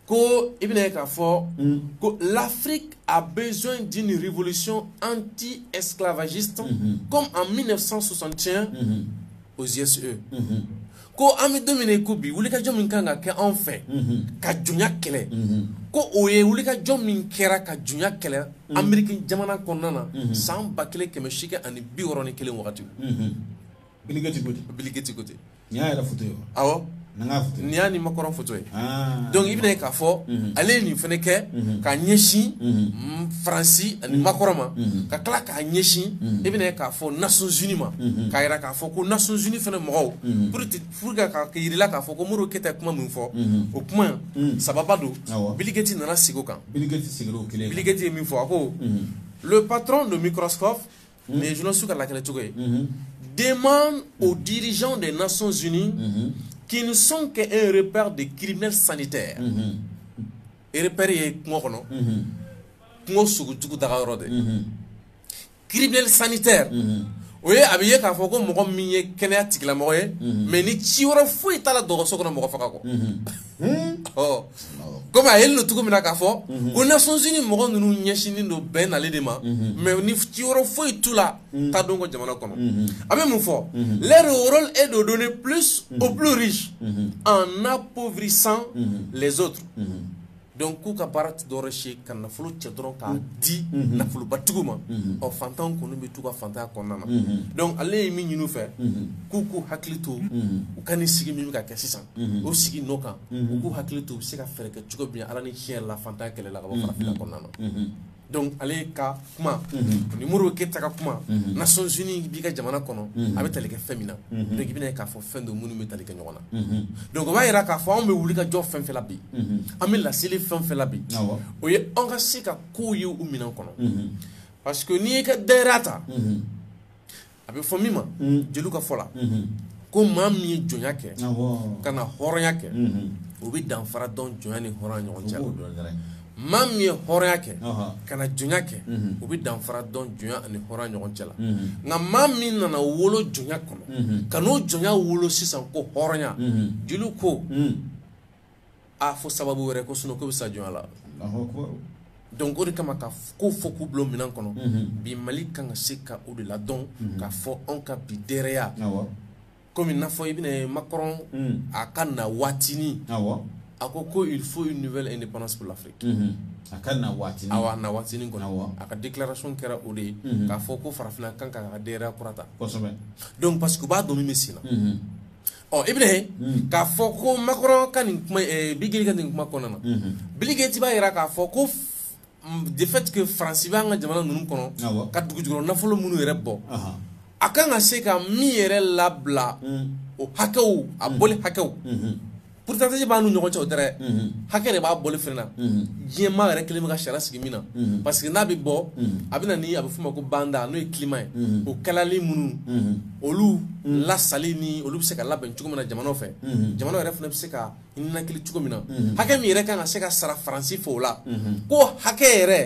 ko i bɛna ye k'a fɔ mm. ko l'Afrique a besoin d'une révolution anti-esclavagiste mm-hmm. comme en 1961 mm-hmm. aux USA e. mm-hmm. ko an bɛ don min na i ko bi wulikajɔ min kan ka kɛ anw fɛ ka jɔnya kɛlɛ ko o ye wulikajɔ min kɛra ka jɔnya kɛlɛ Ameriki jamana kɔnɔna na san ba kelen kɛmɛ seegin ani bi wɔɔrɔ ni kelen wagati Bill Gates ko ten Bill Gates ko ten nin y'a yɛrɛ foto ye wa awɔ nin y'a foto ye nin y'a ni makɔrɔn foto ye ah. donc i bɛna ye k'a fɔ mhm. ale ye nin fɛnɛ kɛ mhm. ka ɲɛsin mhm. faransi ani makɔrɔn ma ka tila k'a ɲɛsin i bɛna ye k'a fɔ nations unies ma k'a yira k'a fɔ ko nations unies fɛnɛ mɔgɔw pour pour ka ka yirila k'a fɔ ko modibo keyita ye kuma min fɔ o kuma sababa don Bill Gates nana segin o kan Bill Gates seginn'o kelen Bill Gates ye min fɔ a ko le patron de Microsoft mm. mais journaliste ka lakali cogo ye mm-hmm. demande aux dirigeants des Nations Unies mm-hmm. qui ne sont qu'un repaire de criminels sanitaires mm-hmm. repaire ye kungo kɔnɔ kungo sogo jugu daga yɔrɔ de criminel sanitaire o ye a bɛ ye k'a fɔ ko mɔgɔ min ye kɛnɛya tigilamɔgɔ ye mais ni ci wɛrɛ foyi t'a la dɔgɔtɔrɔso kɔnɔ mɔgɔ faga kɔ kɔmi a yelen don cogo min na k'a fɔ ko nations unies mɔgɔ ninnu ɲɛsinnen don bɛn nali de ma mais ni ci wɛrɛ foyi t'u la ta don ko jamana kɔnɔ a bɛ mun fɔ leur rôle est de donner plus aux plus riches en appauvrissant les autres donc k'u ka baara dɔ wɛrɛ si ka nafolo cɛ dɔrɔn k'a di nafolobatigiw ma ɔ fantan kɔni bɛ t'u ka fantanya kɔnɔna na donc ale ye min ɲini u fɛ k'u k'u hakili to u ka nin sigi min bɛ ka kɛ sisan mhm. o sigi n'o kan mhm. u k'u hakili to u bɛ se ka fɛɛrɛ kɛ cogo min ala ni tiɲɛ la fantan kɛlɛ la ka bɔ mhm. farafinna kɔnɔna na donc ale ka kuma ni modibo keyita ka kuma nations unies b'i ka jamana kɔnɔ a bɛ tali kɛ fɛn min na donc i bɛna ye k'a fɔ fɛn don minnu bɛ tali kɛ ɲɔgɔn na donc o b'a yira k'a fɔ anw bɛ wuli ka jɔ fɛn fɛn la bi an bɛ laseli fɛn fɛn la bi o ye anw ka se ka kow ye u minɛn kɔnɔ parce que n'i y'i ka dayira ta a bɛ fɔ min ma jeliw ka fɔ la ko maa min ye jɔnya kɛ ka na hɔrɔnya kɛ o bɛ danfara dɔn jɔnya ni hɔrɔnya ɲɔgɔn cɛ maa min ye hɔrɔnya kɛ ka na jɔnya kɛ o bɛ danfara dɔn jɔnya ani hɔrɔnya ɲɔgɔn cɛ la nka maa min nana wolo jɔnya kɔnɔ ka n'o jɔnya wele sisan ko hɔrɔnya jeliw ko a fo sababu wɛrɛ kɔ sinon k'o bɛ sa jɔnya la donc o de kama ka kow fɔ k'u bila minɛn kɔnɔ mhm. bi mali kan ka se ka o de la dɔn mhm. k'a fɔ anw ka bi dɛrɛya komi n'a fɔ i bɛna ye macron mhm. a ka na waatinin a ko ko il faut une nouvelle indépendance pour l'afrique a ka na waatinin awa na waatinin kɔnɔ a ka déclaration kɛra o de ye k'a fɔ ko farafinna kan ka ka dɛrɛya kura ta donc parce que u b'a dɔn min bɛ sen na ɔ i bɛna ye k'a fɔ ko makɔrɔ ka nin kuma ɛɛ biligeti ka nin kuma kɔnɔna na biligeti b'a jira k'a fɔ ko de fait que faransi b'an ka jamana ninnu kɔnɔ ka dugujukɔrɔ nafolo minnu yɛrɛ bɔ a kan ka se ka min yɛrɛ labila o hakɛw a bɔli hakɛw pourcentage b'an n'u ɲɔgɔn cɛ o tɛ dɛ hakɛ de b'a bɔli fɛnɛ na diɲɛ maa yɛrɛ kelen bɛ ka sariya sigi min na parce que n'a bɛ bɔ a bɛ na ni a bɛ f'o ma ko banda n'o ye climat ye o kalali minnu olu lasali ni olu bɛ se ka labɛn cogo min na jamana fɛ jamana yɛrɛ fana bɛ se ka nakili cogo min na hakɛ min yɛrɛ kan ka se ka sara faransi fɛ o la ko hakɛ yɛrɛ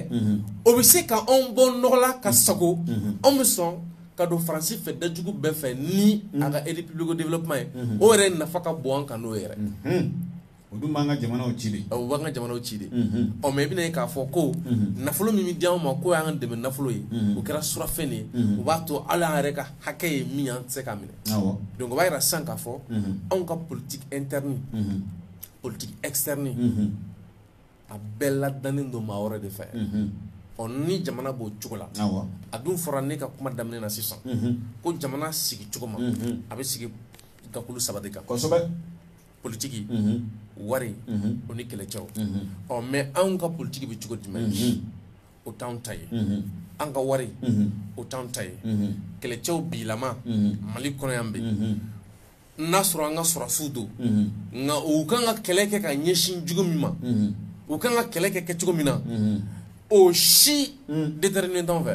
o bɛ se ka anw bɔ nɔgɔ la ka sago anw bɛ sɔn ka don faransi fɛ dajugu bɛɛ fɛ ni a ka aide publique au développement ye o yɛrɛ nafa ka bon an kan n'o yɛrɛ o dun b'an ka jamanaw ci de o b'an ka jamanaw ci de ɔ mais i bɛna ye k'a fɔ ko nafolo min bɛ di anw ma k'o y'an dɛmɛ nafolo ye o kɛra surafɛn de ye o b'a to hali an yɛrɛ ka hakɛ ye min ye an tɛ se k'a minɛ donc o b'a yira sisan k'a fɔ anw ka politique interne politique externe a bɛɛ ladannen don maa wɛrɛ de fɛ ɔ ni jamana b'o cogo la a dun fɔra ne ka kuma daminɛ na sisan ko jamana sigi cogo ma a bɛ sigi gakulu saba de kan kosɛbɛ politigi wari o ni kɛlɛcɛw ɔ mais anw ka politigi bɛ cogo di mais o t'an ta ye an ka wari o t'an ta ye kɛlɛcɛw bilama mali kɔnɔ yan bɛ n'a sɔrɔ an ka sɔrɔsiw don nka u kan ka kɛlɛ kɛ ka ɲɛsin jugu min ma u kan ka kɛlɛ kɛ kɛ cogo min na o si déterminé t'anw fɛ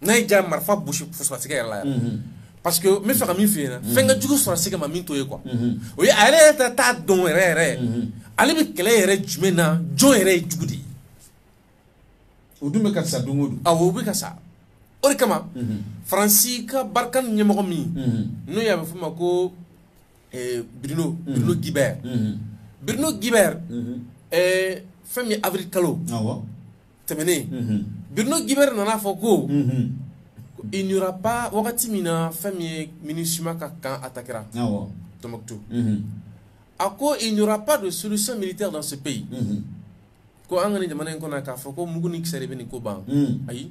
n'a y'i diya marifa bɔsi sɔrɔsikɛ yɛrɛ la yɛrɛ mhm. parce que n bɛ fɛ ka min f'i ɲɛna mhm. fɛn ka jugu sɔrɔsikɛ ma min to ye quoi mhm. o ye a yɛrɛ yɛrɛ t'a dɔn yɛrɛ yɛrɛ ale bɛ kɛlɛ yɛrɛ jumɛn na jɔn yɛrɛ ye jugu de ye o dun bɛ ka sa don o don awɔ o bɛ ka sa o de kama faransi ka Barkhane ɲɛmɔgɔ min n'o ye a bɛ f'o ma ko eh, Bruno Bruno Guibert Bruno Guibert eh, fɛn min ye avril kalo awɔ tɛmɛnen Bruno Guibert nana a fɔ ko il n'y aura pas wagati min na fɛn min ye MINUSMA ka camp attaquera Tombouctou a ko il n'y aura pas de solution militaire dans ce pays ko an ka nin jamana in kɔnɔ yan k'a fɔ ko mugu ni kisɛ de bɛ nin ko ban ayi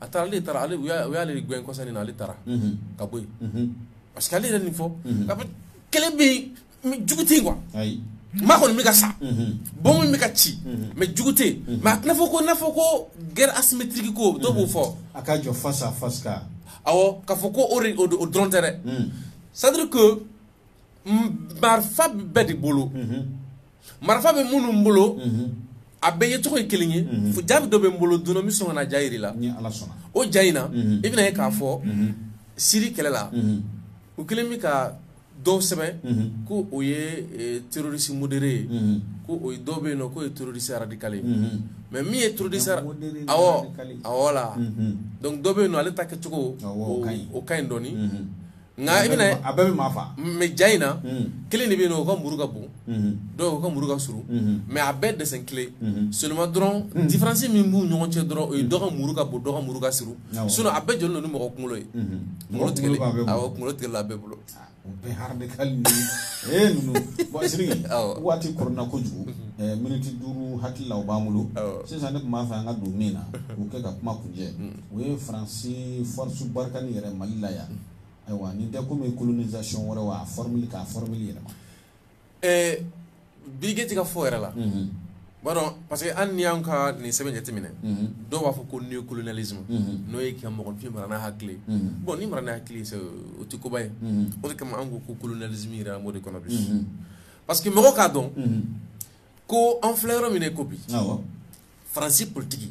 a taara ale taara u y'ale gɛn kɔsa nin na ale taara ka bɔ yen parce que ale yɛrɛ nin fɔ ko kɛlɛ bɛ yen jugu tɛ yen quoi maa kɔni bɛ ka sa bɔmu bɛ ka ci mais jugu tɛ yen mais a tɛna fɔ ko n'a fɔ ko guerre asymétrique ko dɔw b'o fɔ a ka jɔ face à face awɔ k'a fɔ ko o o dɔrɔn tɛ dɛ c'est-à-dire que marifa bɛ bɛɛ de bolo marifa bɛ minnu bolo a bɛɛ ye tɔgɔ ye kelen ye fo jaabi dɔ bɛ n bolo donna min sɔn ka na ja jira la o ja in na i bɛna ye k'a fɔ siri kɛlɛ la u kelen bɛ ka dɔw sɛbɛn ko o ye terroriste modéré ye ko o dɔw bɛ yen nɔn k'o ye terroriste radical mais min ye terroriste aw aw la donc dɔ bɛ yen nɔn ale ta kɛcogo o ka ɲi dɔɔnin Nka i bɛna a bɛɛ bɛ maa faa mais ja in na kelen de bɛ yen o ka muru ka bon dɔw ka muru ka surun mais a bɛɛ dessin kelen seulement dɔrɔn différence min b'u ɲɔgɔn cɛ dɔrɔn o ye dɔ ka muru ka bon dɔ ka muru ka surun sinon a bɛɛ jɔlen don ni mɔgɔ kunkolo ye mɔgɔ tigɛ kunkolo tigɛlen b'u bolo waati kɔnɔna kojugu miniti duuru hakilila o b'an bolo sisan ne tun b'a fɛ an ka don min na k'o kɛ ka kuma kuncɛ o ye faransi force barikani yɛrɛ mali la yan ayiwa nin tɛ komi colonisation wɛrɛ wa a formule k'a formule yɛlɛma eh, birige ti ka fɔ yɛrɛ la mhm. b'a dɔn parce que hali n'i y'an ka nin sɛbɛn jateminɛ mhm. dɔw b'a fɔ ko neocolonialisme mhm. n'o ye ka mɔgɔfin mara n'a hakili bon ni mara n'a hakili o tɛ koba ye o de kama an ko ko colonialisme yɛrɛ an b'o de kɔnɔ bi parce que mɔgɔ k'a dɔn ko an filɛ yɔrɔ min na i ko bi faransi politiki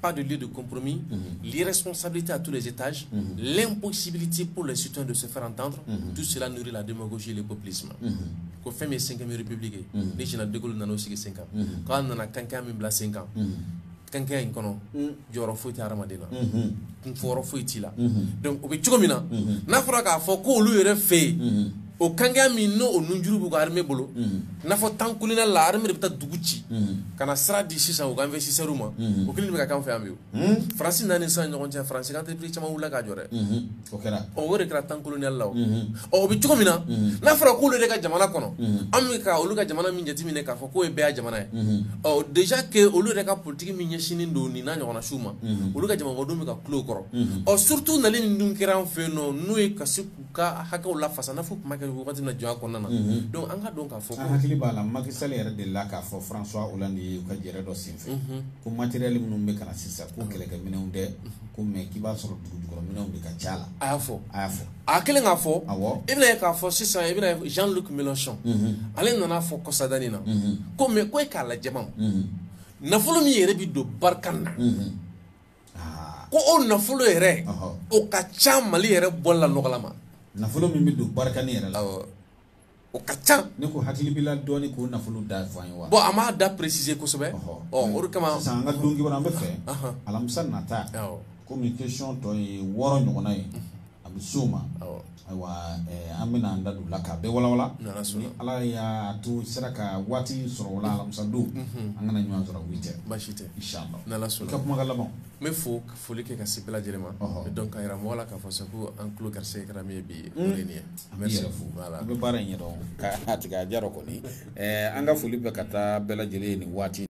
pas de lieu de compromis, mhm. l'irresponsabilité à tous les étages, mhm. l'impossibilité pour les citoyens de se faire entendre, mhm. tout cela nourrit la démagogie et le populisme. Ko fɛn min ye cinquième République ye ni général de Gaulle nana o sigi sen kan k'a nana kankan min bila sen kan kankɛya in kɔnɔ jɔyɔrɔ foyi tɛ hadamaden na kunfɔyɔrɔ foyi t'i la donc o bɛ cogo min na n'a fɔra k'a fɔ k'olu yɛrɛ fɛ yen o kanya min n'o o nunjuru b'u ka armée bolo n'a fɔ temps colonial la armée de bɛ taa dugu ci ka na sira di sisan u ka investisseurs ma o kelen de bɛ ka k'an fɛ yan bi o faransi na ni sisan ɲɔgɔn cɛ faransi ka entreprise caman wulila k'a jɔ dɛ o kɛra ɔ o de kɛra temps colonial la o ɔ o bɛ cogo min na n'a fɔra k'olu de ka jamana kɔnɔ an bɛ ka olu ka jamana min jateminɛ k'a fɔ k'o ye bɛɛya jamana ye ɔ déjà que olu yɛrɛ ka politique min ɲɛsinnen don nin n'a ɲɔgɔnna siw ma olu ka jamanadenw bɛ ka kulo o kɔrɔ ɔ surtout nali min dun kɛra an fɛ yen nɔ n'o ye ka se ka hakɛw lafasa n'a fɔ kuma kɛ wagati na jɔn kɔnɔna na donc an ka dɔn k'a fɔ an hakili b'a la Macky Sall yɛrɛ delila k'a fɔ François Hollande ye u ka jɛrɛ dɔ senfɛ ko matériel minnu bɛ ka na sisan ko kɛlɛkɛ minɛnw tɛ ko mais k'i b'a sɔrɔ dugu jukɔrɔ minɛnw de ka ca la a y'a fɔ a y'a fɔ a kɛlen k'a fɔ i bɛna ye k'a fɔ sisan i bɛna ye Jean Luc Mélenchon ale nana a fɔ kɔsada nin na ko mais ko e k'a lajɛ nafolo min yɛrɛ bɛ don barikani na ko o nafolo yɛrɛ o ka ca mali yɛrɛ bɔla nɔgɔ la ma nafolo min bɛ don barikani yɛrɛ la o ka ca ne ko hakili b'i la dɔɔnin k'o nafolo da fɔ an ye wa bon a m'a da préciser kosɛbɛ ɔ o de kama sisan an ka don kibaru an bɛ fɛ alamisa nata komi question tɔ ye wɔɔrɔ ɲɔgɔnna ye a bɛ so ma ayiwa an bɛna an da don la k'a bɛɛ wawa ala y'a to sera ka waati sɔrɔ la alamisadon an ka na ɲɔgɔn sɔrɔ cɛ basi tɛ ka kuma n bɛ fɔ foli kɛ ka se bɛɛ lajɛlen ma dɔn ka jira mɔgɔ la k'a fɔ sa ko an tulo ka se kɛra min ye bi nin ye an bɛ yɛrɛ fo la an bɛ baara in ɲɛ dɔn ka tigɛ a diyara kɔni an ka foli bɛ ka taa bɛɛ lajɛlen nin waati